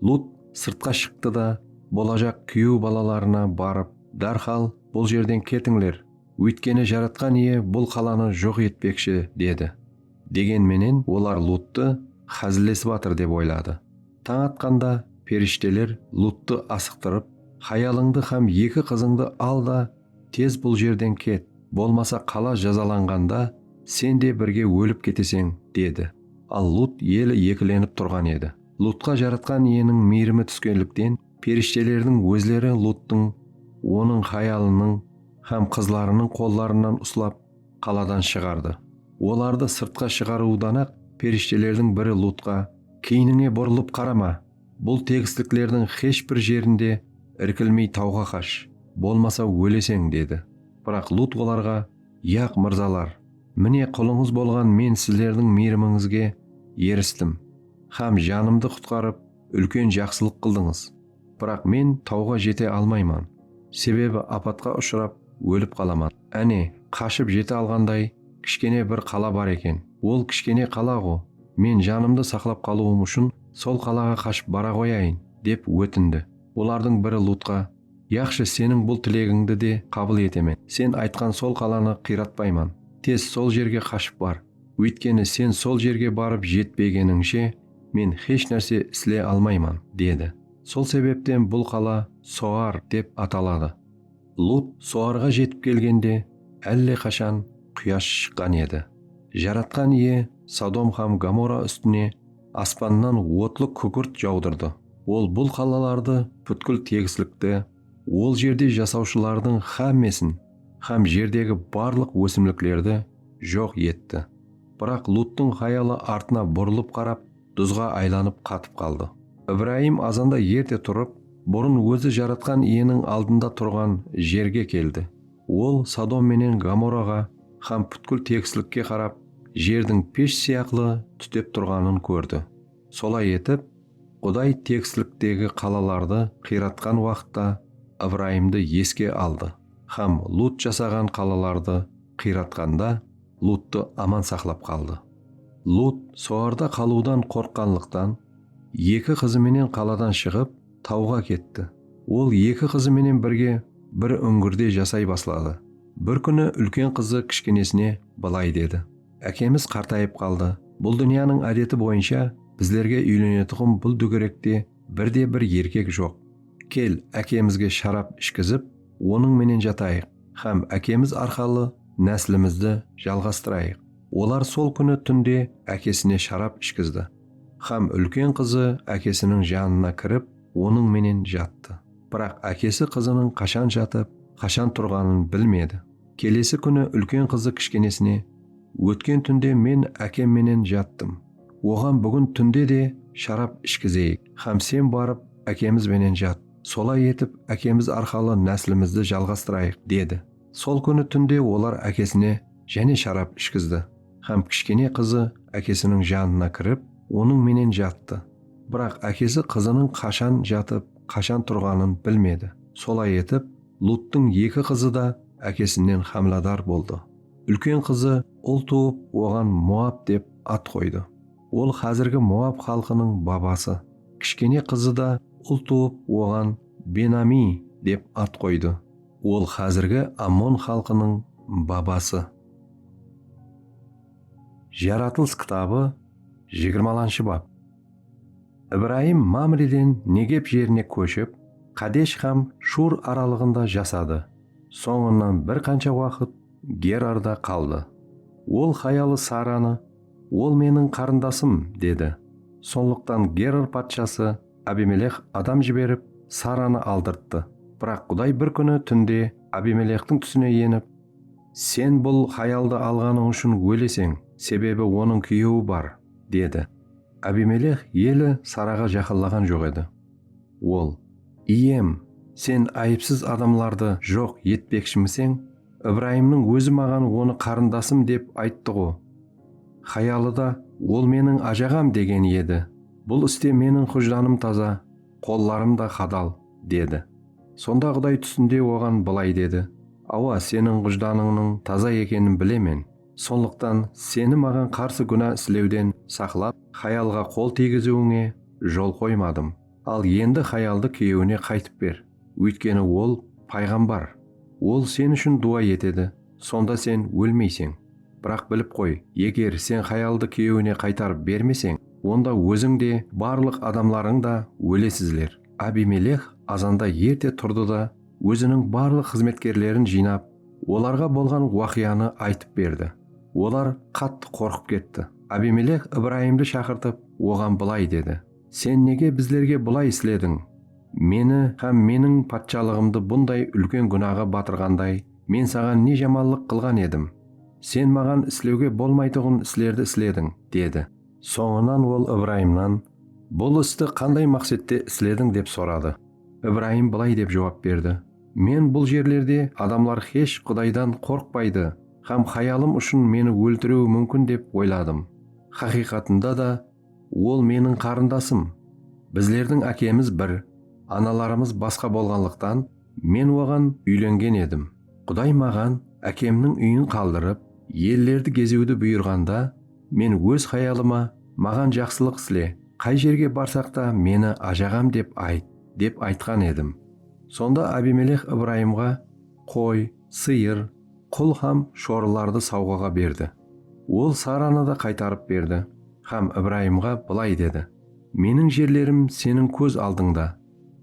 Speaker 1: Lut sırtqa shıqtı da, bolajaq kúyew balalarına barıp, Dárhal bul jerden ketińler, óytkeni Jaratqan Iye bul qalanı joq etpekshi, dedi. Degen menen olar Luttı xázillesip atır dep oyladı. Tań atqanda perishteler Luttı asıqtırıp, Hayalıńdı hám eki qızıńdı al da, tez bul jerden ket, bolmasa qala jazalanǵanda sen de birge ólip keteseń, dedi. Al Lutt eli ekilenip turǵan edi. Luttqa Jaratqan Iyeniń miyrimi túskenlikten, Perishtelerdiń ózleri Luttıń, onıń hayalınıń hám qızlarınıń qollarınan uslap, qaladan shıǵardı. Olardı sırtqa shıǵarıwıdan-aq, perishtelerdiń biri Lutqa, Keynińe burılıp qarama! Bul tegisliklerdiń xesh bir jerinde irkilmey tawǵa qash, bolmasa óleseń, dedi. Biraq Lut olarǵa, Yaq, mırzalar! Mine, qulıńız bolǵan men sizlerdiń miyrimińizge eristim hám janımdı qutqarıp, úlken jaqsılıq qıldıńız. Biraq men tawǵa jete almayman, sebebi apatqa ushırap ólip qalaman. Áne, qashıp jete alǵanday kishkene bir qala bar eken. Ol kishkene qala-ǵo, men janımdı saqlap qalıwım ushın sol qalaǵa qashıp bara qoyayın, dep ótindi. Olardıń biri Lutqa, Yaqshı, seniń bul tilegińdi de qabıl etemen. Sen aytqan sol qalanı qıyratpayman. Tez sol jerge qashıp bar. Óytkeni sen sol jerge barıp jetpegenińshe men xesh nárse isle almayman, dedi. Sol sebepten bul qala Soar dep ataladı. Lut Soarǵa jetip kelgende álle qashan quyash shıqqan edi. Jaratqan Iye Sodom hám Gomora ústine aspannan otlı kúkirt jawdırdı. Ol bul qalalardı pútkil tegislikti, Ol jerde jasawshılardıń xámmesin hám jerdegi barlıq ósimliklerdi joq etti. Biraq Luttıń xayalı artına burılıp qarap, duzǵa aylanıp qatıp qaldı. Ibrayım azanda erte turıp, burın ózi Jaratqan Iyeniń aldında turǵan jerge keldi. Ol Sodom menen Gomoraǵa hám pútkil tegislikke qarap, jerdiń pesh sıyaqlı tútep turǵanın kórdi. Solay etip, Quday teksliktegi qalalardı qıyratqan waqıtta Ibrayımdı eske aldı hám Lut jasaǵan qalalardı qıyratqanda Luttı aman saqlap qaldı. Lut solarda qalıwdan qorqqanlıqtan, eki qızı menen qaladan shıǵıp, tawǵa ketti. Ol eki qızı menen birge bir úńgirde jasay basladı. Bir kúni úlken qızı kishkenesine bılay dedi. Ákemiz qartayıp qaldı. Bul dúnyanıń ádeti boyınsha bizlerge úylenetuǵın bul dúgerekte bir de bir erkek joq. Kel, ákemizge sharap ishkizip, onıń menen jatayıq hám ákemiz arqalı náslimizdi jalǵastırayıq. Olar sol kúni túnde ákesine sharap ishkizdi hám úlken qızı ákesiniń janına kirip, onıń menen jattı. Biraq ákesi qızınıń qashan jatıp, qashan turǵanın bilmedi. Kelesi kúni úlken qızı kishkenesine, Ótken túnde men ákem menen jattım. Oǵan búgin túnde de sharap ishkizeyik hám sen barıp ákemiz benen jat. Solay etip ákemiz arqalı náslimizdi jalǵastırayıq, dedi. Sol kúni túnde olar ákesine jáne sharap ishkizdi hám kishkene qızı ákesiniń janına kirip, onıń menen jattı. Biraq ákesi qızınıń qashan jatıp, qashan turǵanın bilmedi. Solay etip, Luttıń eki qızı da ákesinnen hámladar boldı. Úlken qızı ul tuwıp, oǵan Moab dep at qoydı. Ol házirgi Moab xalqınıń babası. Kishkene qızı da ul tuwıp, oǵan Ben-Amiy dep at qoydı. Ol házirgi Ammon xalqınıń babası. Jaratılıs kitabı jigirmalanshı bap. Ibrayım Mamreden Negep jerine kóship, Qadesh hám Shur aralıǵında jasadı. Sońınan bir qansha waqıt Gerarda qaldı. Ol hayalı Saranı, Ol meniń qarındasım, dedi. Sonlıqtan Gerar patshası Abimeleh adam jiberip, Saranı aldırttı. Biraq Quday bir kúni túnde Abimelehtiń túsine enip, Sen bul hayaldı alǵanıń ushın óleseń, sebebi onıń kúyewi bar, dedi. Abimeleh eli Saraǵa jaqınlaǵan joq edi. Ol, Iyem, sen ayıpsız adamlardı joq etpekshimiseń? Ibrayımnıń ózi maǵan onı qarındasım dep ayttı-ǵo. Hayalı da, Ol meniń ajaǵam degen edi. Bul iste meniń xujlanım taza, qollarım da hadal, dedi. Sonda Quday túsinde oǵan bılay dedi, Awa, seniń xujlanıńnıń taza ekenin bilemen. Sonlıqtan seni maǵan qarsı gúna islewden saqlap, hayalǵa qol tiygiziwińe jol qoymadım. Al endi hayaldı kúyewine qaytıp ber, óytkeni ol payǵambar, ol sen ushın duwa etedi, sonda sen ólmeyseń. Biraq bilip qoy, eger sen hayaldı kúyewine qaytarıp bermeseń, onda óziń de, barlıq adamlarıń da ólesizler. Abimeleh azanda erte turdı da, óziniń barlıq xızmetkerlerin jıynap, Olarǵa bolǵan waqıyanı aytıp berdi. Olar qattı qorqıp ketti. Abimelek Ibrayımdı shaqırtıp, oǵan bılay dedi, Sen nege bizlerge bılay islediń? Meni hám meniń patshalıǵımdı bunday úlken gúnaǵa batırǵanday men saǵan ne jamallıq qılǵan edim? Sen maǵan islewge bolmaytuǵın islerdi islediń, dedi. Sońınan ol Ibrayımnan, Bul isti qanday maqsette islediń? dep soradı. Ibrayım bılay dep juwap berdi, Men bul jerlerde adamlar xesh Qudaydan qorqpaydı hám hayalım ushın meni óltiriwi múmkin dep oyladım. Haqıyqatında da, ol meniń qarındasım. Bizlerdiń ákemiz bir, analarımız basqa bolǵanlıqtan, men oǵan úylengen edim. Quday maǵan ákemniń úyin qaldırıp, ellerdi geziwdi buyırǵanda, men óz hayalıma, Maǵan jaqsılıq isle, qay jerge barsaq ta meni ajaǵam dep ayt, dep aytqan edim. Sonda Abimeleh Ibrayımǵa qoy, sıyır, qul hám shorılardı sawǵaǵa berdi. Ol Saranı da qaytarıp berdi hám Ibrayımǵa bılay dedi, Meniń jerlerim seniń kóz aldıńda,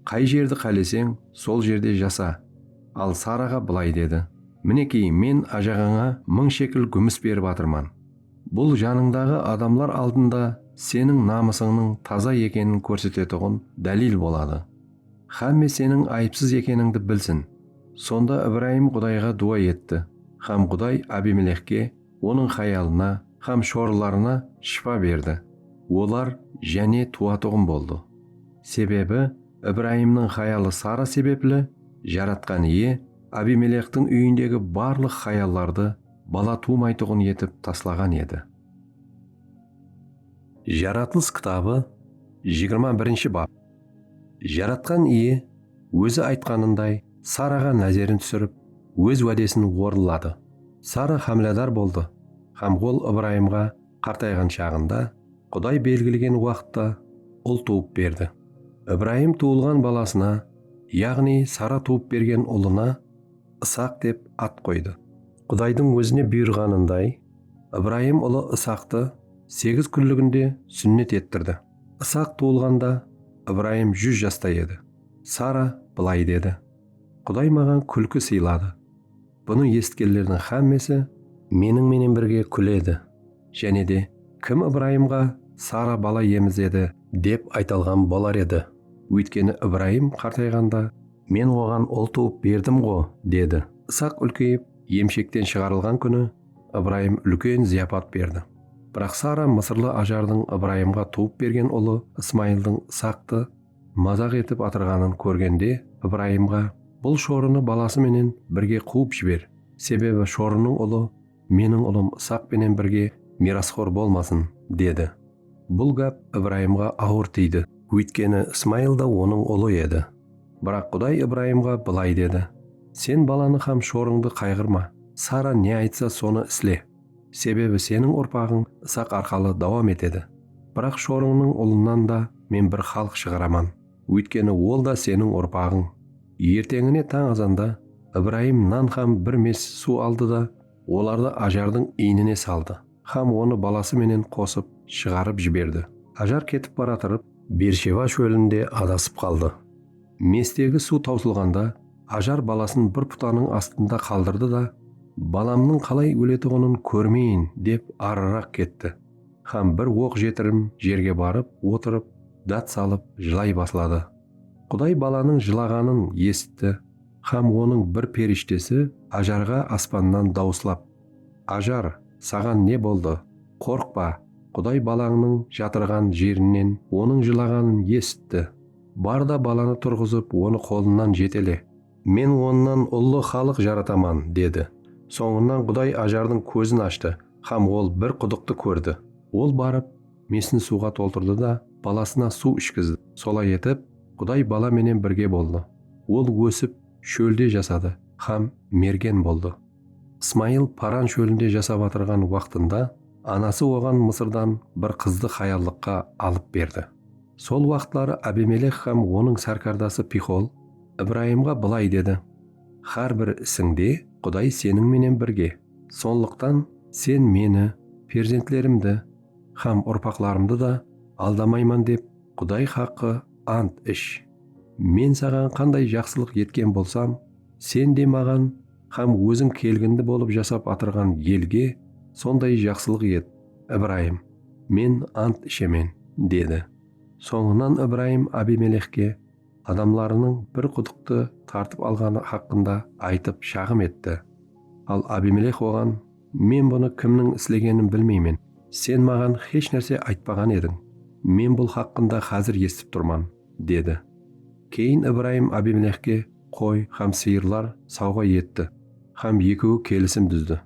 Speaker 1: qay jerdi qáleseń, sol jerde jasa. Al Saraǵa bılay dedi, Minekey, men ájaǵańa mıń shekl gúmis berip atırman. Bul janıńdaǵı adamlar aldında seniń namısıńnıń taza ekenin kórsetetuǵın dálil boladı. Xámme seniń ayıpsız ekenińdi bilsin. Sonda Ibrayım Qudayǵa duwa etti, hám Quday Abimelexke, onıń hayalına hám shorılarına shıpa berdi, olar jáne tuwatuǵın boldı. Sebebi Ibrayımnıń hayalı Sara sebepli Jaratqan Iye Abimelextiń úyindegi barlıq hayallardı bala tuwmaytuǵın etip taslaǵan edi. Jaratılıs kitabı, jigirma birinshi bap. Jaratqan Iye Ózi aytqanınday Saraǵa názerin túsirip, Óz wádesin orınladı. Sara hámiladar boldı hám ol Ibrayımǵa qartayǵan shaǵında, Quday belgilegen waqıtta ul tuwıp berdi. Ibrayım tuwılǵan balasına, yaǵnıy Sara tuwıp bergen ulına Isaq dep at qoydı. Qudaydıń Ózine buyırǵanınday, Ibrayım ulı Isaqtı segiz kúnliginde súnnet ettirdi. Isaq tuwılǵanda Ibrayım júz jasta edi. Sara bılay dedi, Quday maǵan kúlki sıyladı. Bunı esitkenlerdiń xámmesi meniń menen birge kúledi. Jáne de, Kim Ibrayımǵa, Sara bala emizedi? Dep ayta alǵan bolar edi. Óytkeni Ibrayım qartayǵanda, Men oǵan ul tuwıp berdim-ǵo, dedi. Isaq úlkeyip, emshekten shıǵarılǵan kúni Ibrayım úlken zıyapat berdi. Biraq Sara mısırlı Ajardıń Ibrayımǵa tuwıp bergen ulı Ismayıldıń Ishaqtı mazaq etip atırǵanın kórgende, Ibrayımǵa, Bul shorını balası menen birge quwıp jiber, sebebi shorınıń ulı meniń ulım Ishaq penen birge miyrasxor bolmasın, dedi. Bul gáp Ibrayımǵa awır tiydi. Óytkeni Ismayıl da onıń ulı edi. Biraq Quday Ibrayımǵa bılay dedi, Sen balanı hám shorıńdı qayǵırma, Sara ne aytsa, sonı isle. Sebebi seniń urpaǵıń Isaq arqalı dawam etedi. Biraq shorıńnıń ulınnan da Men bir xalıq shıǵaraman. Óytkeni ol da seniń urpaǵıń. Erteńine tań azanda Ibrayım nan hám bir mes suw aldı da, olardı ajardıń iynine saldı. hám onı balası menen qosıp shıǵarıp jiberdi. Hajar ketip baratırıp, Bersheba shólinde adasıp qaldı. Mestegi suw tawsılǵanda, Hajar balasın bir putanıń astında qaldırdı da, Balamnıń qalay óletuǵının kórmeyin, dep arıraq ketti hám bir oq jetirim jerge barıp otırıp dát salıp jılay basladı. Quday balanıń jılaǵanın esitti hám onıń bir perishtesi Hajarǵa aspannan dawıslap. Ajar, saǵan ne boldı? Qorqpa, Quday balańnıń jatırǵan jerinen onıń jılaǵanın esitti. Bar da balanı turǵızıp onı qolınan jetele. Men onnan ullı xalıq jarataman, dedi. Sońınan Quday Ajardıń kózin ashtı hám ol bir qudıqtı kórdi. Ol barıp, mesin suwǵa toltırdı da balasına suw ishkizdi. Solay etip, Quday bala menen birge boldı. Ol ósip, shólde jasadı hám mergen boldı. Ismayıl Paran shólinde jasap atırǵan waqtında anası oǵan Mısırdan bir qızdı hayallıqqa alıp berdi. Sol waqıtları Abimelek hám onıń sárkardası Pixol Ibrayımǵa bılay dedi, Hár bir isińde Quday seniń menen birge, sonlıqtan sen meni, perzentlerimdi hám urpaqlarımdı da aldamayman dep Quday haqqı ant ish. Men saǵan qanday jaqsılıq etken bolsam, sen de maǵan hám óziń kelgindi bolıp jasap atırǵan elge sonday jaqsılıq et, Ibrayım, men ant ishemen, dedi. Sońınan Ibrayım Abimelexke adamlarınıń bir qudıqtı tartıp alǵanı haqqında aytıp shaǵım etti. Al Abimelex oǵan, Men bunı kimniń islegenin bilmeymen, sen maǵan hesh nárse aytpaǵan ediń, men bul haqqında házir esitip turman. Dedi. Keyin Ibrayım Abimelexke qoy hám sıyırlar sawǵa etti hám ekewi kelisim dúzdi.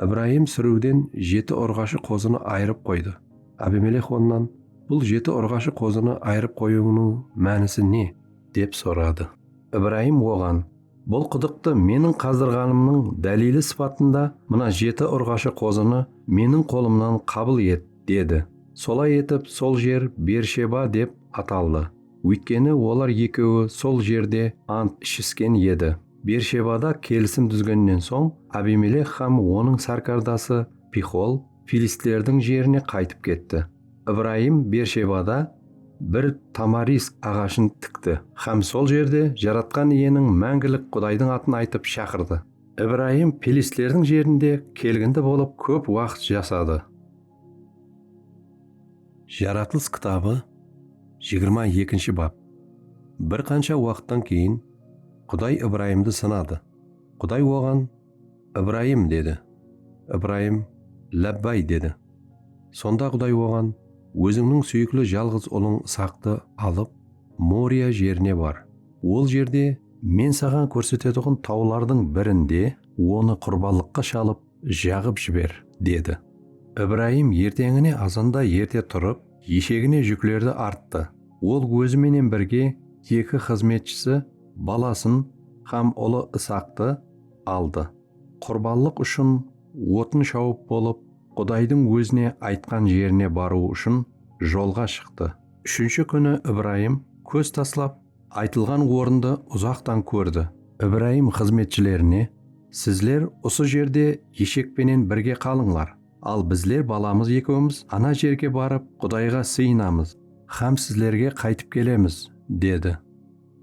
Speaker 1: Ibrayım súriwden jeti urǵashı qozını ayırıp qoydı. Abimelex onnan, Bul jeti urǵashı qozını ayırıp qoyıwıńnıń mánisi ne? dep soradı. Ibrayım oǵan, Bul qıdıqtı meniń qazdırǵanımnıń dáliyli sıpatında mına jeti urǵashı qozını meniń qolımnan qabıl et, dedi. Solay etip sol jer Bersheba dep ataldı. Óytkeni olar ekeui sol jerde ant ishisken edi. Bershebada kelisim dúzgennen soń, Abimelek hám onıń sárkardası Pixol filistlerdiń jerine qaytıp ketti. Ibrayım Bershebada bir tamarisk aǵashın tikti hám sol jerde Jaratqan Iyeniń Máńgilik Qudaydıń atın aytıp shaqırdı. Ibrayım filistlerdiń jerinde kelgindi bolıp kóp waqıt jasadı. Jaratılıs kitabı jigirma ekinshi bap Bir qansha waqıttan keyin Quday Ibrayımdı sınadı. Quday oǵan, Ibrayım, dedi. Ibrayım, Lábbay, dedi. Sonda Quday oǵan, Ózińniń súyikli jalǵız ulıń Isaktı alıp, Moriya jerine bar. Ol jerde. Men saǵan kórsetetuǵın tawlardıń birinde onı qurbanlıqqa shalıp, jaǵıp jiber, dedi. Ibrayım erteńine azanda erte turıp, eshegine júklerdi arttı. Ol ózi menen birge eki xızmetshisi, balasın hám ulı Isaktı aldı. Qurbanlıq ushın otın shawıp bolıp, Qudaydıń ózine aytqan jerine barıw ushın jolǵa shıqtı. Úshinshi kúni Ibrayım kóz taslap, Aytılǵan orındı uzaqtan kórdi. Ibrayım xızmetshilerine, Sizler usı jerde eshek penen birge qalıńlar, al bizler balamız ekewimiz ana jerge barıp Qudayǵa sıyınamız hám sizlerge qaytıp kelemiz, dedi.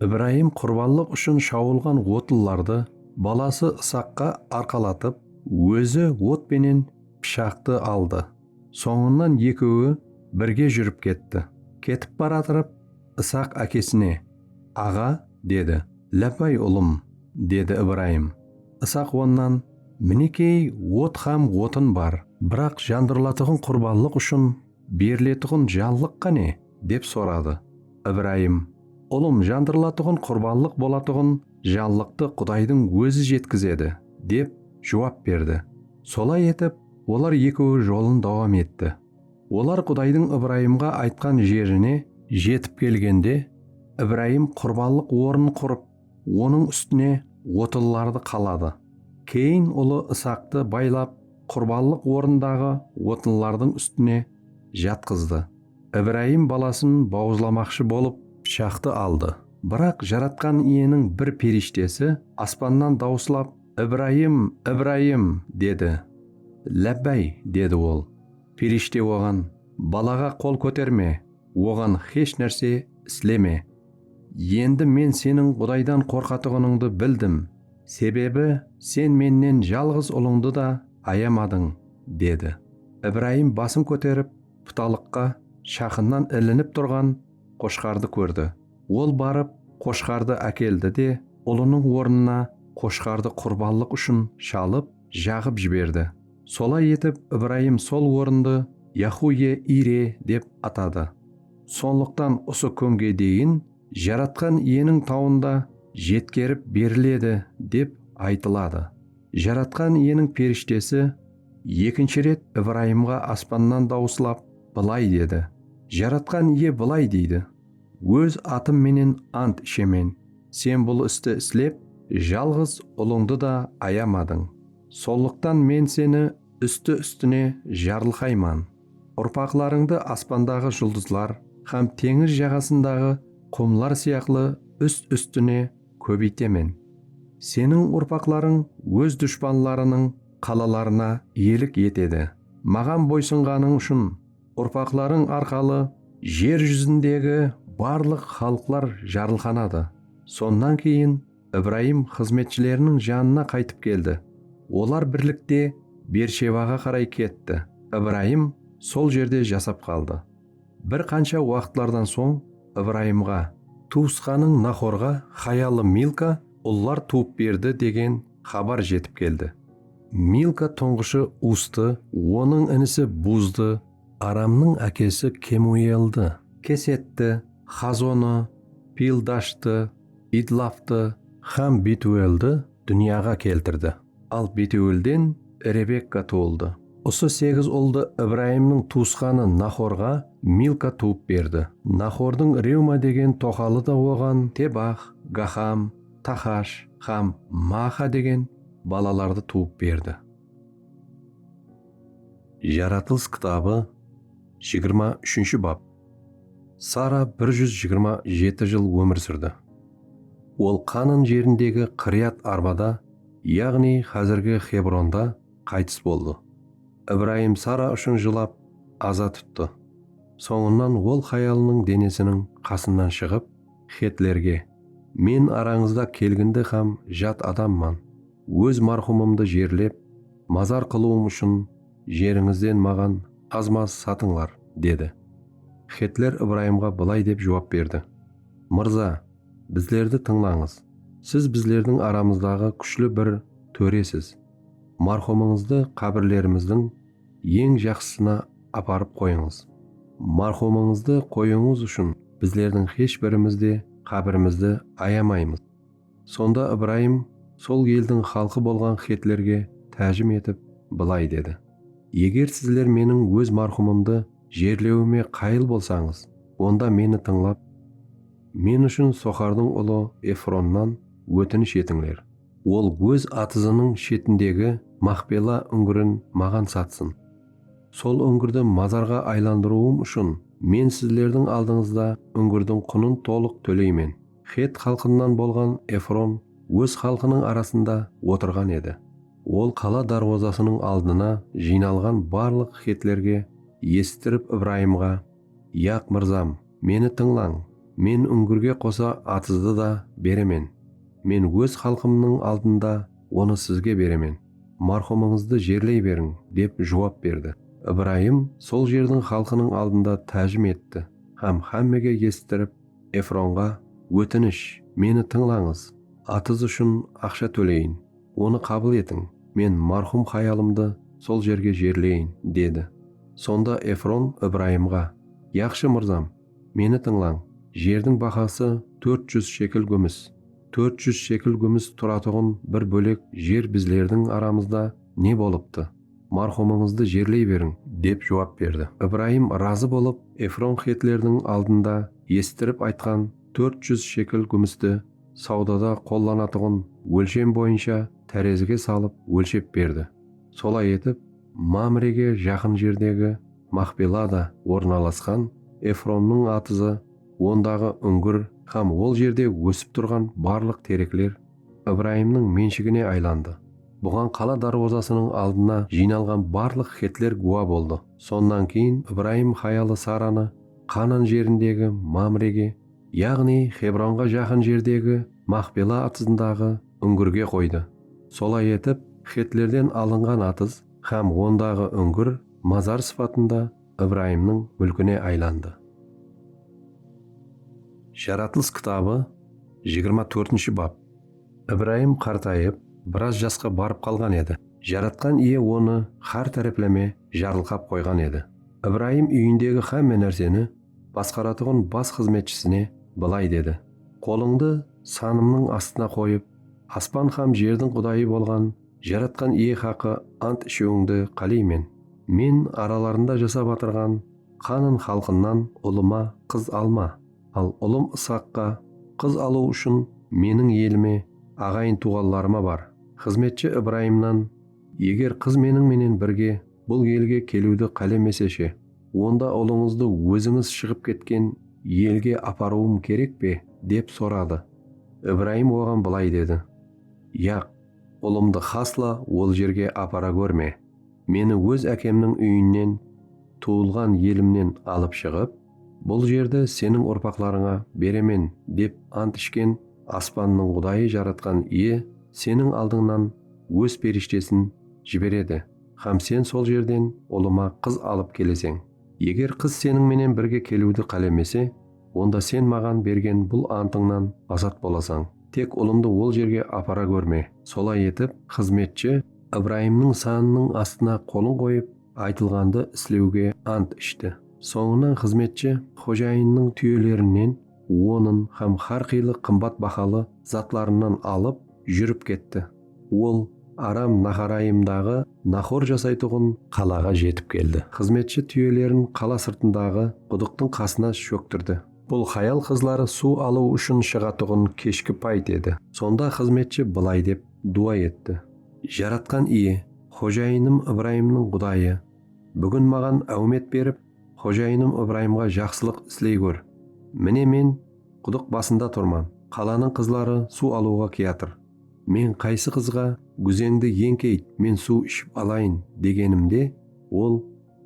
Speaker 1: Ibrayım qurbanlıq ushın shawılǵan otlılardı balası Isaqqa arqalatıp, ózi ot penen pıshaqtı aldı. Sońınan ekeui birge júrip ketti. Ketip baratırıp Isaq ákesine, Aǵa, dedi. Lábbay, ulım, dedi Ibrayım. Isaq onnan, Minekey, ot hám otın bar, biraq jandırılatuǵın qurbanlıq ushın beriletuǵın janlıq qáne? dep soradı. Ibrayım, Ulım, jandırılatuǵın qurbanlıq bolatuǵın janlıqtı Qudaydıń ózi jetkizedi, dep juwap berdi. Solay etip, Olar ekeui jolın dauam etti. Olar Qudaydıń Ibrayımǵa aytqan jerine jetip kelgende, Ibrayım qurbanlıq ornın qurıp, onıń ústine otınlardı qaladı. Keyin ulı Isaqtı baylap, qurbanlıq orındaǵı otınlardıń ústine jatqızdı. Ibrayım balasın bauızlamaqshı bolıp, pıshaqtı aldı. Biraq Jaratqan Iyeniń bir perishtesi aspannan dauıslap, Ibrayım, Ibrayım! dedi. Lábbáy, dedi ol. Perishte oǵan, Balaǵa qol kóterme, oǵan xesh nárse isleme. Endi men seniń Qudaydan qorqatuǵınıńdı bildim, sebebi sen mennen jalǵız ulıńdı da ayamadıń, dedi. Ibrayım basın kóterip, putalıqqa shaqınnan ilinip turǵan qoshqardı kórdi. Ol barıp, qoshqardı ákeldi de, ulınıń ornına qoshqardı qurbanlıq ushın shalıp, jaǵıp jiberdi. Solay etip, Ibrayım sol orındı Yahuye-Ire dep atadı. Sonlıqtan usı kúnge deyin Jaratqan Iyeniń tawında jetkerip beriledi, dep aytıladı. Jaratqan Iyeniń perishtesi ekinshi ret Ibrayımǵa aspannan dawıslap, bılay dedi, Jaratqan Iye bılay deydi. Óz atım menen ant ishemen, Sen bul isti islep, jalǵız Ulıńdı da ayamadıń. Sollıqtan Men seni ústi-ústine jarılqayman, urpaqlarıńdı aspandaǵı juldızlar hám teńiz jaǵasındaǵı qumlar sıyaqlı úst-ústine kóbeytemen. Seniń urpaqlarıń óz dushpanlarınıń qalalarına iyelik etedi, Maǵan boysınǵanıń ushın. Urpaqlarıń arqalı jer júzindegi barlıq xalıqlar jarılqanadı. Sonnan keyin Ibrayım xızmetshileriniń janına qaytıp keldi. Olar birlikte Bershebaǵa qaray ketti. Ibrayım sol jerde jasap qaldı. Bir qansha waqıtlardan soń Ibrayımǵa, Tuwısqanıń Nahorǵa hayalı Milka ullar tuwıp berdi degen xabar jetip keldi. Milka tuńǵıshı Uztı, onıń inisi Buzdı, Aramnıń ákesi Kemueldi. Kesetti, Xazonı, Pildashtı, Idlaftı hám Betueldi dúnyaǵa keltirdi. Al Betuelden Rebekka tuwıldı. Usı segiz uldı Ibrayımnıń tuwısqanı Naxorǵa Milka tuwıp berdi. Naxordıń Rewma degen toqalı da oǵan Tebax, Gaxam, Taxash hám Maaxa degen balalardı tuwıp berdi. Jaratılıs kitabı jigirma úshinshi bap Sara bir júz jigirma jeti jıl ómir súrdi. Ol Qaanan jerindegi Qiriyat-Arbada, yaǵnıy házirgi Xebronda qaytıs boldı. Ibrayım Sara ushın jılap, aza tuttı. Sońınan ol hayalınıń denesiniń qasınan shıǵıp, Xetlerge, Men arańızda kelgindi hám jat adamman, óz marhumımdı jerlep, mazar qılıwım ushın jerińizden maǵan qazma satıńlar, dedi. Xetler Ibrayımǵa bılay dep juwap berdi, Mırza, bizlerdi tıńlańız, siz bizlerdiń aramızdaǵı kúshli bir tóresiz, marhumıńızdı qábirlerimizdiń Eń jaqsısına aparıp qoyıńız. Marhumıńızdı qoyıwıńız ushın bizlerdiń xesh birimiz de qábirimizdi ayamaymız. Sonda Ibrayım sol eldiń xalqı bolǵan xetlerge tájim etip bılay dedi, Eger sizler meniń óz marhumımdı jerlewime qayıl bolsańız, onda meni tıńlap, men ushın Soxardıń ulı Efronnan ótinish etińler. Ol óz atızınıń shetindegi Maxpela úńgirin maǵan satsın. Sol úńgirdi mazarǵa aylandırıwım ushın men sizlerdiń aldıńızda úńgirdiń qunın tolıq tóleymen. Xet xalqınan bolǵan Efron óz xalqınıń arasında otırǵan edi. Ol qala dárwazasınıń aldına jıynalǵan barlıq xetlerge esittirip Ibrayımǵa. Yaq, mırzam, meni tıńlań, men úńgirge qosa atızdı da beremen. Men óz xalqımnıń aldında onı sizge beremen, marhumıńızdı jerley beriń, dep juwap berdi. Ibrayım sol jerdiń xalqınıń aldında tájim etti hám hámmege esittirip, Efronǵa, Ótinish, meni tıńlańız, atız ushın aqsha tóleyin. Onı qabıl etiń, men marhum hayalımdı sol jerge jerleyin, dedi. Sonda Efron Ibrayımǵa, Yaqshı mırzam, meni tıńlań, jerdiń bahası tórt júz shekel gúmis. Tórt júz shekel gúmis turatuǵın bir bólek jer bizlerdiń aramızda ne bolıptı? Marhumıńızdı jerley beriń! Dep juwap berdi. Ibrayım razı bolıp, Efron xetlerdiń aldında esittirip aytqan tórt júz shekel gúmisti, Sawdada qollanatuǵın ólshem boyınsha tárezige salıp ólshep berdi. Solay etip, Mamrege jaqın jerdegi Maxpelada ornalasqan Efronnıń atızı, ondaǵı úńgir hám ol jerde ósip turǵan barlıq terekler Ibrayımnıń menshigine aylandı. Buǵan qala dárwazasınıń aldına jıynalǵan barlıq xetler gúwa boldı. Sonnan keyin Ibrayım hayalı Saranı Qanan jerindegi Mamrege Yaǵnıy Xebronǵa jaqın jerdegi Maxpela atızındaǵı úńgirge qoydı. Solay etip, xetlerden alınǵan atız hám ondaǵı úńgir mazar sıpatında Ibrayımnıń múlkine aylandı. Jaratılıs kitabı jigirma tórtinshi bap Ibrayım qartayıp, biraz jasqa barıp qalǵan edi. Jaratqan Iye onı hár tárepleme jarılqap qoyǵan edi. Ibrayım úyindegi hámme nárseni, Basqaratuǵın bas xızmetshisine bılay dedi. Qolıńdı sanımnıń astına qoyıp, aspan xam jerdiń qudayı bolǵan Jaratqan Iye haqı ant ishiwińdi qáleymen. Men aralarında jasap atırǵan Qanın xalqınnan ulıma qız alma, al ulım Ishaqqa qız alıw ushın meniń elime, aǵayin-tuwǵanlarıma bar, xızmetshi Ibrayımnan, eger qız meniń menen birge Bul elge keliwdi qálemese she? Onda ulıńızdı ózińiz shıǵıp ketken elge aparıwım kerek pe? dep soradı. Ibrayım oǵan bılay dedi, Yaq, ulımdı xasla ol jerge apara górme. Meni óz ákemniń úyinen, tuwılǵan elimnen alıp shıǵıp, bul jerdi seniń urpaqlarıńa beremen dep ant ishken Aspannıń Qudayı Jaratqan Iye seniń aldıńnan Óz perishtesin jiberedi. hám sen sol jerden ulıma qız alıp keleseń. Eger qız seniń menen birge keliwdi qálemese, onda sen maǵan bergen bul antıńnan azat bolasań. Tek ulımdı ol jerge apara górme. Solay etip, xızmetshi Ibrayımnıń sanınıń astına qolın qoyıp, aytılǵandı islewge ant ishti. Sońınan xızmetshi xojayınnıń túyelerinen onın hám hár qıylı qımbat bahalı zatlarınan alıp, júrip ketti. Ol Aram Naharayımdaǵı Nahor jasaytuǵın qalaǵa jetip keldi. Xızmetshi túyelerin qala sırtındaǵı qudıqtıń qasına shóktirdi. Bul hayal-qızlar suw alıw ushın shıǵatuǵın keshki payt edi. Sonda xızmetshi bılay dep duwa etti. Jaratqan Iye, xojayınım Ibrayımnıń Qudayı, búgin maǵan áwmet berip, xojayınım Ibrayımǵa jaqsılıq isley gór. Mine men qudıq basında turman, qalanıń qızları suw alıwǵa kiyatır. Men qaysı qızǵa gúzeńdi eńkeyt, men suw iship alayın, degenimde, ol,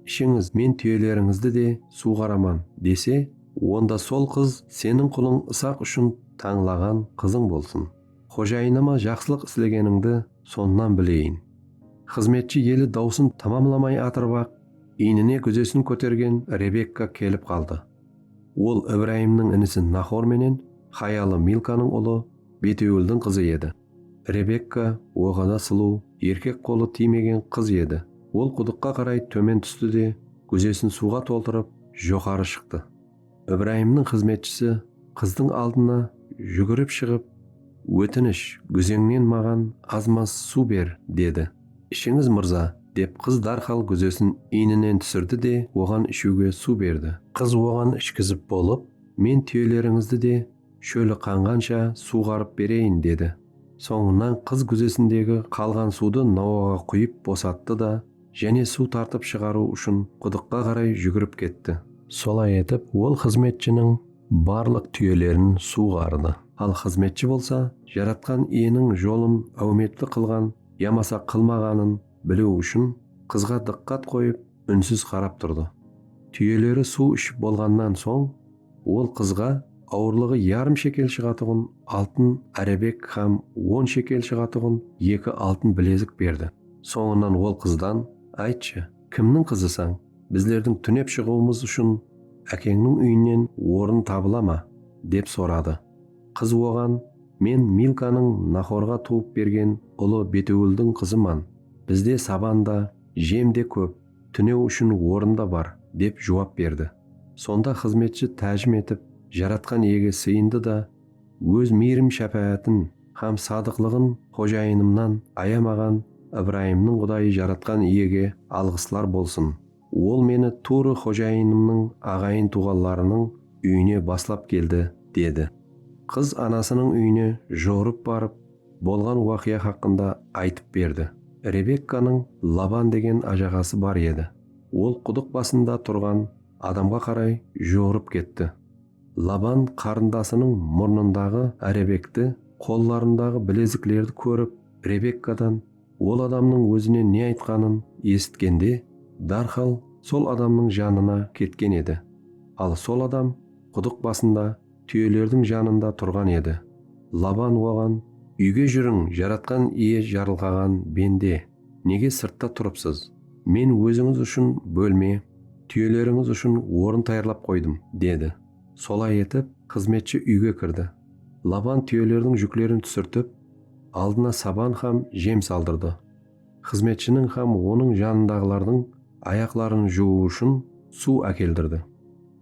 Speaker 1: Ishińiz, men túyelerińizdi de suwǵaraman, dese, onda sol qız seniń qulıń Isaq ushın tańlaǵan qızıń bolsın. Xojayınıma jaqsılıq islegenińdi sonnan bileyin. Xızmetshi eli dawsın tamamlamay atırıp-aq, iynine gúzesin kótergen Rebekka kelip qaldı. Ol Ibrayımnıń inisi Naxor menen hayalı Milkanıń ulı Betewıldıń qızı edi. Rebekka oǵada sulıw, erkek qolı tiymegen qız edi. Ol qudıqqa qaray tómen tústi de, gúzesin suwǵa toltırıp, joqarı shıqtı. Ibrayımnıń xızmetshisi qızdıń aldına júgirip shıǵıp, Ótinish, gúzeńnen maǵan az-maz suw ber, dedi. Ishińiz mırza, dep qız dárhal gúzesin iyninen túsirdi de oǵan ishiwge suw berdi. Qız oǵan ishkizip bolıp, Men túyelerińizdi de shóli qanǵansha suwǵarıp bereyin, dedi. Sońınan qız gúzesindegi qalǵan suwdı nawaǵa quyıp bosattı da, jáne suw tartıp shıǵarıw ushın qudıqqa qaray júgirip ketti. Solay etip ol xızmetshiniń barlıq túyelerin suwǵardı. Al xızmetshi bolsa Jaratqan Iyeniń jolın áwmetli qılǵan yamasa qılmaǵanın biliw ushın qızǵa dıqqat qoyıp únsiz qarap turdı. Túyeleri suw iship bolǵannan soń ol qızǵa awırlıǵı yarım shekel shıǵatuǵın altın árebek hám on shekel shıǵatuǵın eki altın bilezik berdi. Sońınan ol qızdan, Aytshı, kimniń qızısań? Bizlerdiń túnep shıǵıwımız ushın ákeńniń úyinen orın tabıla ma? dep soradı. Qız oǵan, Men Milkanıń Naxorǵa tuwıp bergen ulı Betewıldıń qızıman, bizde saban da, jem de kóp, túnew ushın orın da bar, dep juwap berdi. Sonda xızmetshi tájim etip, Jaratqan Iyege sıyındı da, Óz miyrim-shápáátin hám sadıqlıǵın xojayınımnan ayamaǵan Ibrayımnıń Qudayı Jaratqan Iyege alǵıslar bolsın! Ol meni tuwrı xojayınımnıń aǵayın-tuwǵanlarınıń úyine baslap keldi, dedi. Qız anasınıń úyine juwırıp barıp, bolǵan waqıya haqqında aytıp berdi. Rebekkanıń Laban degen ájaǵası bar edi. Ol qudıq basında turǵan adamǵa qaray juwırıp ketti. Laban qarındasınıń murnındaǵı árebekti, qollarındaǵı bileziklerdi kórip, Rebekkadan. Ol adamnıń ózine ne aytqanın esitkende, dárhal sol adamnıń janına ketken edi. Al sol adam qudıq basında túyelerdiń janında turǵan edi. Laban oǵan. Úyge júriń, Jaratqan Iye jarılǵaǵan bende, nege sırtta turıpsız? Men ózińiz ushın bólme, túyelerińiz ushın orın tayarlap qoydım, dedi. Solay etip, xızmetshi úyge kirdi. Laban túyelerdiń júklerin túsirtip, Aldına saban hám jem saldırdı. Xızmetshiniń hám onıń janındaǵılardıń ayaqların juwıw ushın suw ákeldirdi.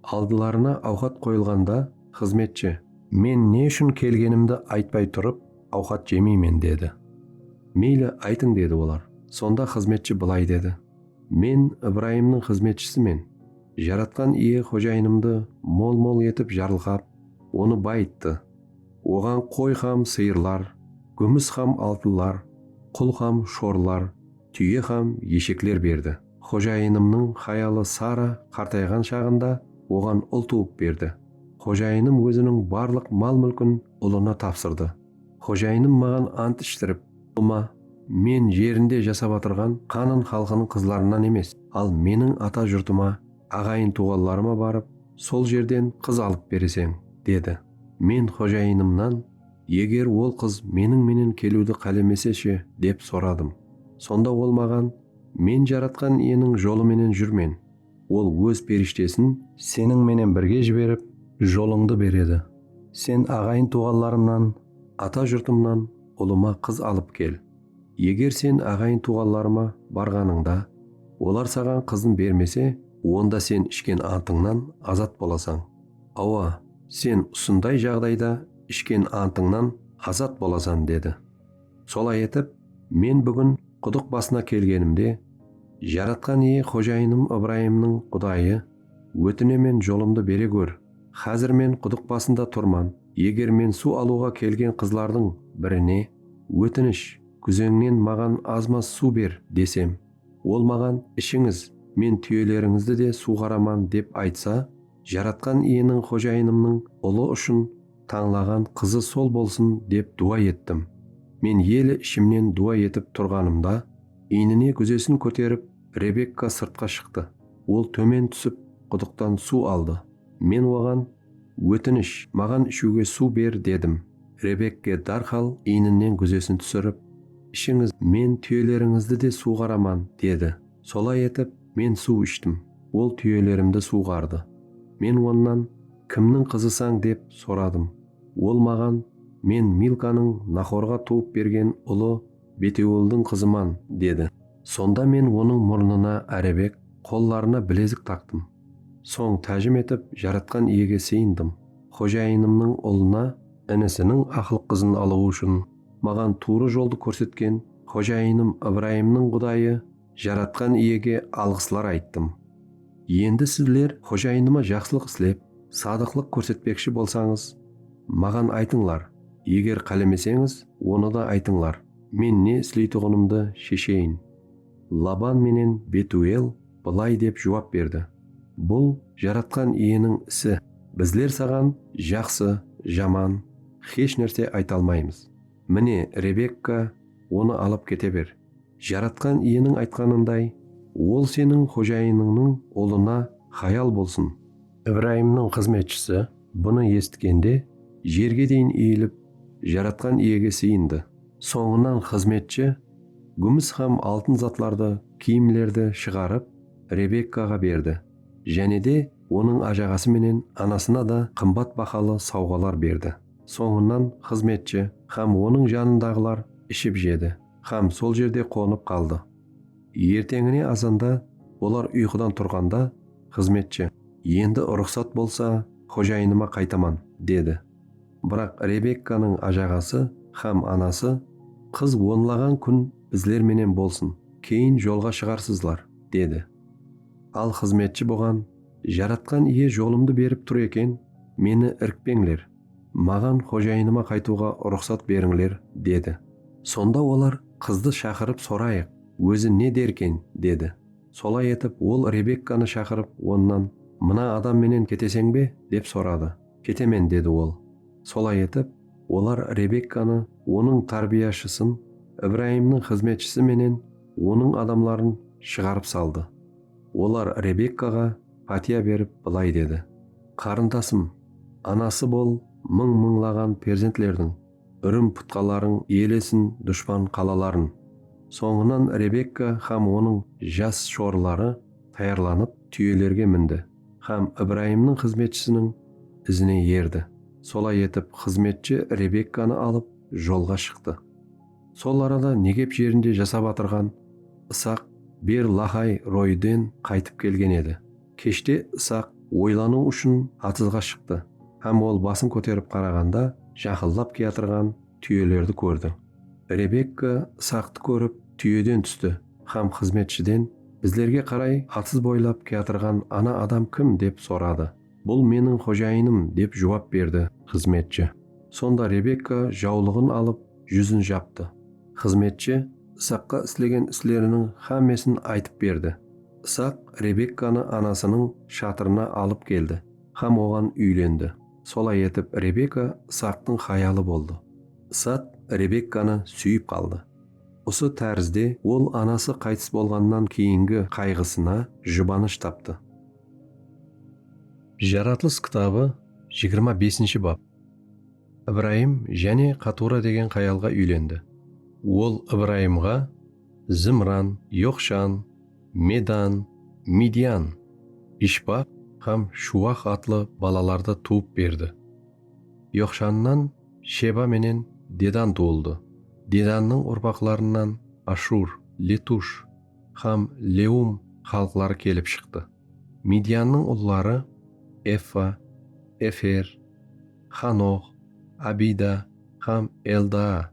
Speaker 1: Aldılarına awqat qoyılǵanda xızmetshi. Men ne ushın kelgenimdi aytpay turıp, awqat jemeymen, dedi. Meyli, aytıń, dedi olar. Sonda xızmetshi bılay dedi, Men Ibrayımnıń xızmetshisimen. Jaratqan Iye xojayınımdı mol-mol etip jarılqap, onı bayıttı. Oǵan qoy hám sıyırlar, gúmis hám altınlar, qul hám shorlar, túye hám eshekler berdi. Xojayınımnıń hayalı Sara qartayǵan shaǵında oǵan ul tuwıp berdi. Xojayınım óziniń barlıq mal-múlkin ulına tapsırdı. Xojayınım maǵan ant ishtirip, Ulma, men jerinde jasap atırǵan Qanan xalqınıń qızlarınan emes, al meniń ata jurtıma, aǵayın-tuwǵanlarıma barıp, sol jerden qız alıp bereseń, dedi. Men xojayınımnan, Eger ol qız meniń menen keliwdi qálemese she? dep soradım. Sonda ol maǵan, Men Jaratqan Iyeniń jolı menen júrmen. Ol Óz perishtesin. Seniń menen birge jiberip, jolıńdı beredi. Sen aǵayın-tuǵanlarımnan, ata jurtımnan ulıma qız alıp kel. Eger sen aǵayın-tuǵanlarıma barǵanıńda, olar saǵan qızın bermese, onda sen ishken antıńnan azat bolasań. Awa, sen usınday jaǵdayda ishken antıńnan azat bolasan, dedi. Solay etip, men búgin qudıq basına kelgenimde, Jaratqan Iye Xojayınım Ibrayımnıń Qudayı, ótinemen jolımdı bere gór, xázir men qudıq basında turman, eger men suw alıwǵa kelgen qızlardıń birine, Ótinish, kúzeńnen maǵan az-maz suw ber, desem, ol maǵan, Ishińiz, men túyelerińizdi de suwǵaraman, dep aytsa, Jaratqan Iyeniń xojayınımnıń ulı ushın tańlaǵan qızı sol bolsın dep duwa ettim. Men ele ishimnen duwa etip turǵanımda, iynine gúzesin kóterip, Rebekka sırtqa shıqtı. Ol tómen túsip, qudıqtan suw aldı. Men oǵan, Ótinish, maǵan ishiwge suw ber, dedim. Rebekke dárhal iyninen gúzesin túsirip, Ishińiz, men túyelerińizdi de suwǵaraman, dedi. Solay etip, Men suw ishtim. Ol túyelerimdi suwǵardı. Men onnan, Kimniń qızısań? dep soradım. Ol maǵan, Men Milkanıń Naxorǵa tuwıp bergen ulı Beteuıldıń qızıman, dedi. Sonda men onıń murnına árebek, qollarına bilezik taqtım. Soń tájim etip Jaratqan Iyege sıyındım. Xojayınımnıń ulına, inisiniń aqlıq qızın alıwı ushın, maǵan tuwrı joldı kórsetken Xojayınım Ibrayımnıń Qudayı Jaratqan Iyege alǵıslar ayttım. Endi sizler xojayınıma jaqsılıq islep, sadıqlıq kórsetpekshi bolsańız, maǵan aytıńlar, eger qálemeseńiz, onı da aytıńlar, men ne isleytuǵınımdı shesheyin. Laban menen Betuel bılay dep juwap berdi, Bul Jaratqan Iyeniń isi, bizler saǵan jaqsı, jaman, xesh nárse ayta almaymız. Mine, Rebekka, onı alıp kete ber. Jaratqan Iyeniń aytqanınday, Ol seniń xojayınıńnıń ulına hayal bolsın! Ibrayımnıń xızmetshisi bunı esitkende, jerge deyin iyilip, Jaratqan Iyege sıyındı. Sońınan xızmetshi gúmis hám altın zatlardı, kiyimlerdi shıǵarıp, Rebekkaǵa berdi, jáne de onıń ájaǵası menen anasına da qımbat bahalı sawǵalar berdi. Sońınan xızmetshi hám onıń janındaǵılar iship-jedi. Hám sol jerde qonıp qaldı. Erteńine azanda olar uyqıdan turǵanda, xızmetshi. Endi ruxsat bolsa, xojayınıma qaytaman, dedi. Biraq Rebekkanıń ajaǵası hám anası, Qız onlaǵan kún bizler menen bolsın, keyin jolǵa shıǵarsızlar, dedi. Al xızmetshi buǵan, Jaratqan Iye jolımdı berip tur eken, meni irkpeńler. Maǵan xojayınıma qaytıwǵa ruxsat berińler, dedi. Sonda olar, Qızdı shaqırıp sorayıq, ózi ne derken, dedi. Solay etip, ol Rebekkanı shaqırıp, onnan, Mına adam menen keteseń be? dep soradı. Ketemen, dedi ol. Solay etip, olar Rebekkanı, onıń tárbiyashısın, Ibrayımnıń xızmetshisi menen onıń adamların shıǵarıp saldı. Olar Rebekkaǵa pátiya berip bılay dedi, Qarındasım, anası bol, mıń-mıńlaǵan perzentlerdiń, úrim-putqalarıń iyelesin dushpan qalaların. Sońınan Rebekka hám onıń jas shorıları tayarlanıp, túyelerge mindi hám Ibrayımnıń xızmetshisiniń izine erdi. Solay etip, xızmetshi Rebekkanı alıp, jolǵa shıqtı. Sol arada Negep jerinde jasap atırǵan Isaq Ber Laxay Royiden qaytıp kelgen edi. Keshte Isaq oylanıw ushın atızǵa shıqtı hám ol basın kóterip qaraǵanda jaqıldap kiyatırǵan túyelerdi kórdi. Rebekka Isaqtı kórip túyeden tústi hám xızmetshiden bizlerge qaray atız boylap kiyatırǵan ana adam kim dep soradı. Bul meniń xojayınım, dep juwap berdi xızmetshi. Sonda Rebekka jawlıǵın alıp, júzin japtı. Xızmetshi Isaqqa islegen isleriniń xámmesin aytıp berdi. Isaq Rebekkanı anasınıń shatırına alıp keldi hám oǵan úylendi. Solay etip, Rebeka Isaqtıń hayalı boldı. Isaq Rebekkanı súyip qaldı. Usı tárizde ol anası qaytıs bolǵannan keyingi qayǵısına jubanısh taptı. Jaratılıs kitabı jigirma besinshi bap. Ibrayım jáne Qatura degen xayalǵa úylendi. Ol Ibrayımǵa Zimran, Yoqshan, Medan, Midyan, Ishbaq hám Shuwaq atlı balalardı tuwıp berdi. Yoqshannan Sheba menen Dedan tuwıldı. Dedannıń urpaqlarınan Ashur, Letush, hám Leum xalıqları kelip shıqtı. Midyannıń ulları, Effa, Efer, Xanox, Abida hám Eldaa,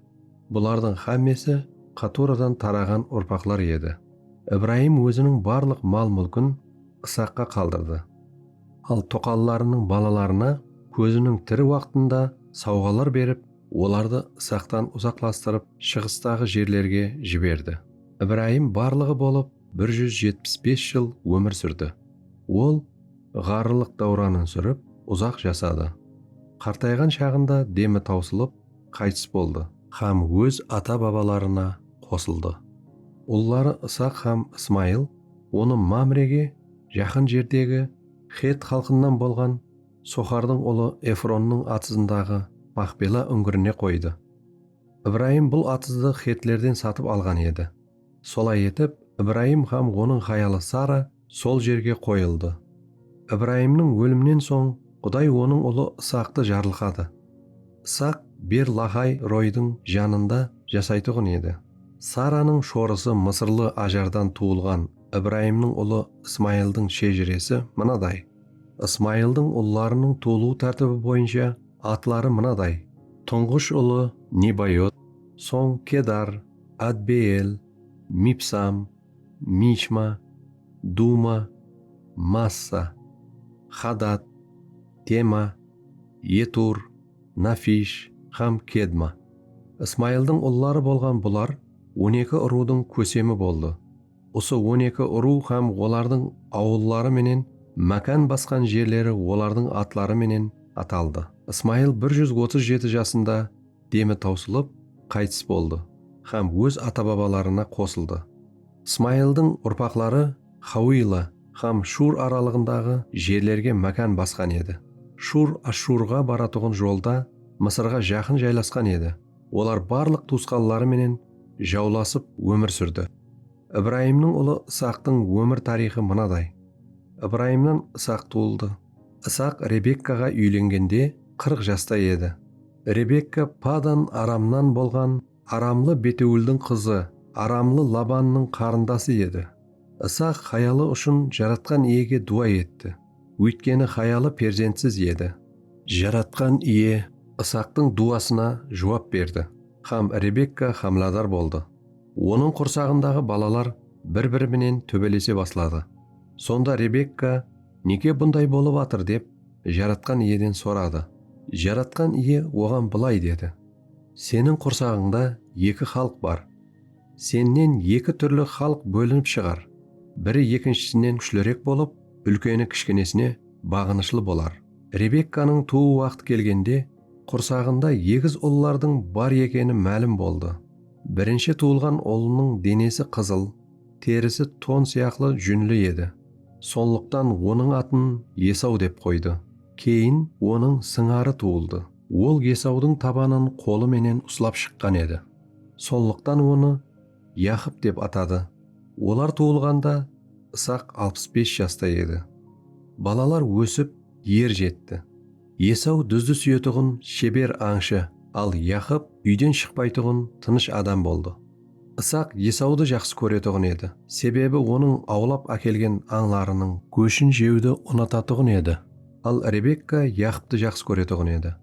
Speaker 1: bulardıń hámmesi Qaturadan taraǵan urpaqlar edi. Ibrayım óziniń barlıq mal-múlkin Isaqqa qaldırdı. Al toqallarınıń balalarına kóziniń tiri waqtında sawǵalar berip, olardı Isaqtan uzaqlastırıp, shıǵıstaǵı jerlerge jiberdi. Ibrayım barlıǵı bolıp bir júz jetpis bes jıl ómir súrdi. Ol ǵarrılıq dáwranın súrip, uzaq jasadı. Qartayǵan shaǵında demi tawsılıp, qaytıs boldı. Hám óz ata-babalarına qosıldı. Ulları Isaq hám Ismayıl onı Mamrege jaqın jerdegi xett xalqınan bolǵan Soxardıń ulı Efronnıń atızındaǵı Maxpela úńgirine qoydı. Ibrayım bul atızdı xetlerden satıp alǵan edi. Solay etip, Ibrayım hám onıń hayalı Sara sol jerge qoyıldı. Ibrayımnıń óliminen soń, Quday onıń ulı Isaqtı jarlıqadı. Isaq Ber-laxay Roydıń janında jasaytuǵın edi. Saranıń shorısı mısırlı Ajardan tuwılǵan Ibrayımnıń ulı Ismayıldıń shejiresi mınaday. Ismayıldıń ullarınıń tuwılıw tártibi boyınsha, Atları mınaday, Tuńǵısh ulı Nebayot, soń Kedar, Adbeel, Mibsam, Mishma, Duma, Massa, Xadat, Tema, Etur, Nafish hám Kedma. Ismayıldıń ulları bolǵan bular on eki urıwdıń kósemi boldı. Usı on eki urıw hám olardıń awılları menen mákan basqan jerleri olardıń atları menen ataldı. Ismayıl bir júz otız jeti jasında demi tawsılıp, qaytıs boldı hám óz ata-babalarına qosıldı. Ismayıldıń urpaqları Xawıyla hám Shur aralıǵındaǵı jerlerge mákan basqan edi. Shur Ashshurǵa baratuǵın jolda Mısırǵa jaqın jaylasqan edi. Olar barlıq tuwısqanları menen jawlasıp ómir súrdi. Ibrayımnıń ulı Isaqtıń ómir tariyxı mınaday, Ibrayımnan Isaq tuwıldı. Isaq Rebekkaǵa úylengende qırq jasta edi. Rebekka Padan Aramnan bolǵan aramlı Betewıldıń qızı, aramlı Labannıń qarındası edi. Isaq hayalı ushın Jaratqan Iyege duwa etti. Óytkeni hayalı perzentsiz edi. Jaratqan Iye Isaqtıń duwasına juwap berdi hám Rebekka hámiladar boldı. Onıń qursaǵındaǵı balalar bir-biri menen tóbelese basladı. Sonda Rebekka, Nege bunday bolıp atır dep Jaratqan Iyeden soradı. Jaratqan Iye oǵan bılay dedi, Seniń qursaǵıńda eki xalıq bar. Sennen eki túrli xalıq bólinip shıǵar, biri ekinshisinen kúshlirik bolıp, úlkeni kishkinesine baǵınıshlı bolar. Rebekkanıń tuwı waqtı kelgende, qursaǵında egiz ullardıń bar ekeni málim boldı. Birinshi tuwılǵan ulınıń denesi qızıl, terisi ton sıyaqlı júnli edi. Sonlıqtan onıń atın Esaw dep qoydı. Keyin onıń sıńarı tuwıldı. Ol Esawdıń tabanın qolı menen uslap shıqqan edi. Sonlıqtan onı Yaqıp dep atadı. Olar tuwılǵanda Isaq alpıs bes jasta edi. Balalar ósip, er jetti. Esaw dúzdi súyetuǵın sheber ańshı, al Yaqıp úyden shıqpaytuǵın tınısh adam boldı. Isaq Esawdı jaqsı kóretuǵın edi, sebebi onıń awlap ákelgen ańlarınıń góshin jewdi unatatuǵın edi. Al Rebekka Yaqıptı jaqsı kóretuǵın edi.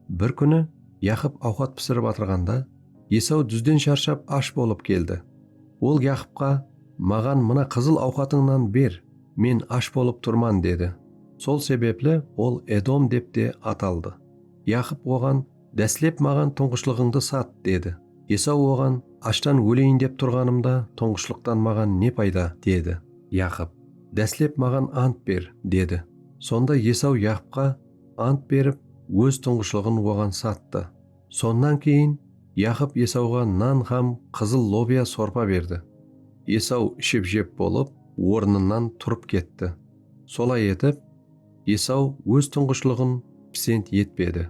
Speaker 1: Bir kúni Yaqıp awqat pisirip atırǵanda, Esaw dúzden sharshap ash bolıp keldi. Ol Yaqıpqa, Maǵan mına qızıl awqatıńnan ber, men ash bolıp turman, dedi. Sol sebepli ol Edom dep te at aldı. Yaqıp oǵan, Dáslep maǵan tuńǵıshlıǵıńdı sat, dedi. Esaw oǵan, Ashtan óleyin dep turǵanımda tuńǵıshlıqtan maǵan ne payda, dedi. Yaqıp, Dáslep maǵan ant ber, dedi. Sonda Esaw Yaqıpqa. Ant berip, óz tuńǵıshlıǵın oǵan sattı. Sonnan keyin Yaqıp Esawǵa nan hám qızıl lobiya sorpa berdi. Esaw iship-jep bolıp, ornınan turıp ketti. Solay etip, Esaw óz tuńǵıshlıǵın pisent etpedi.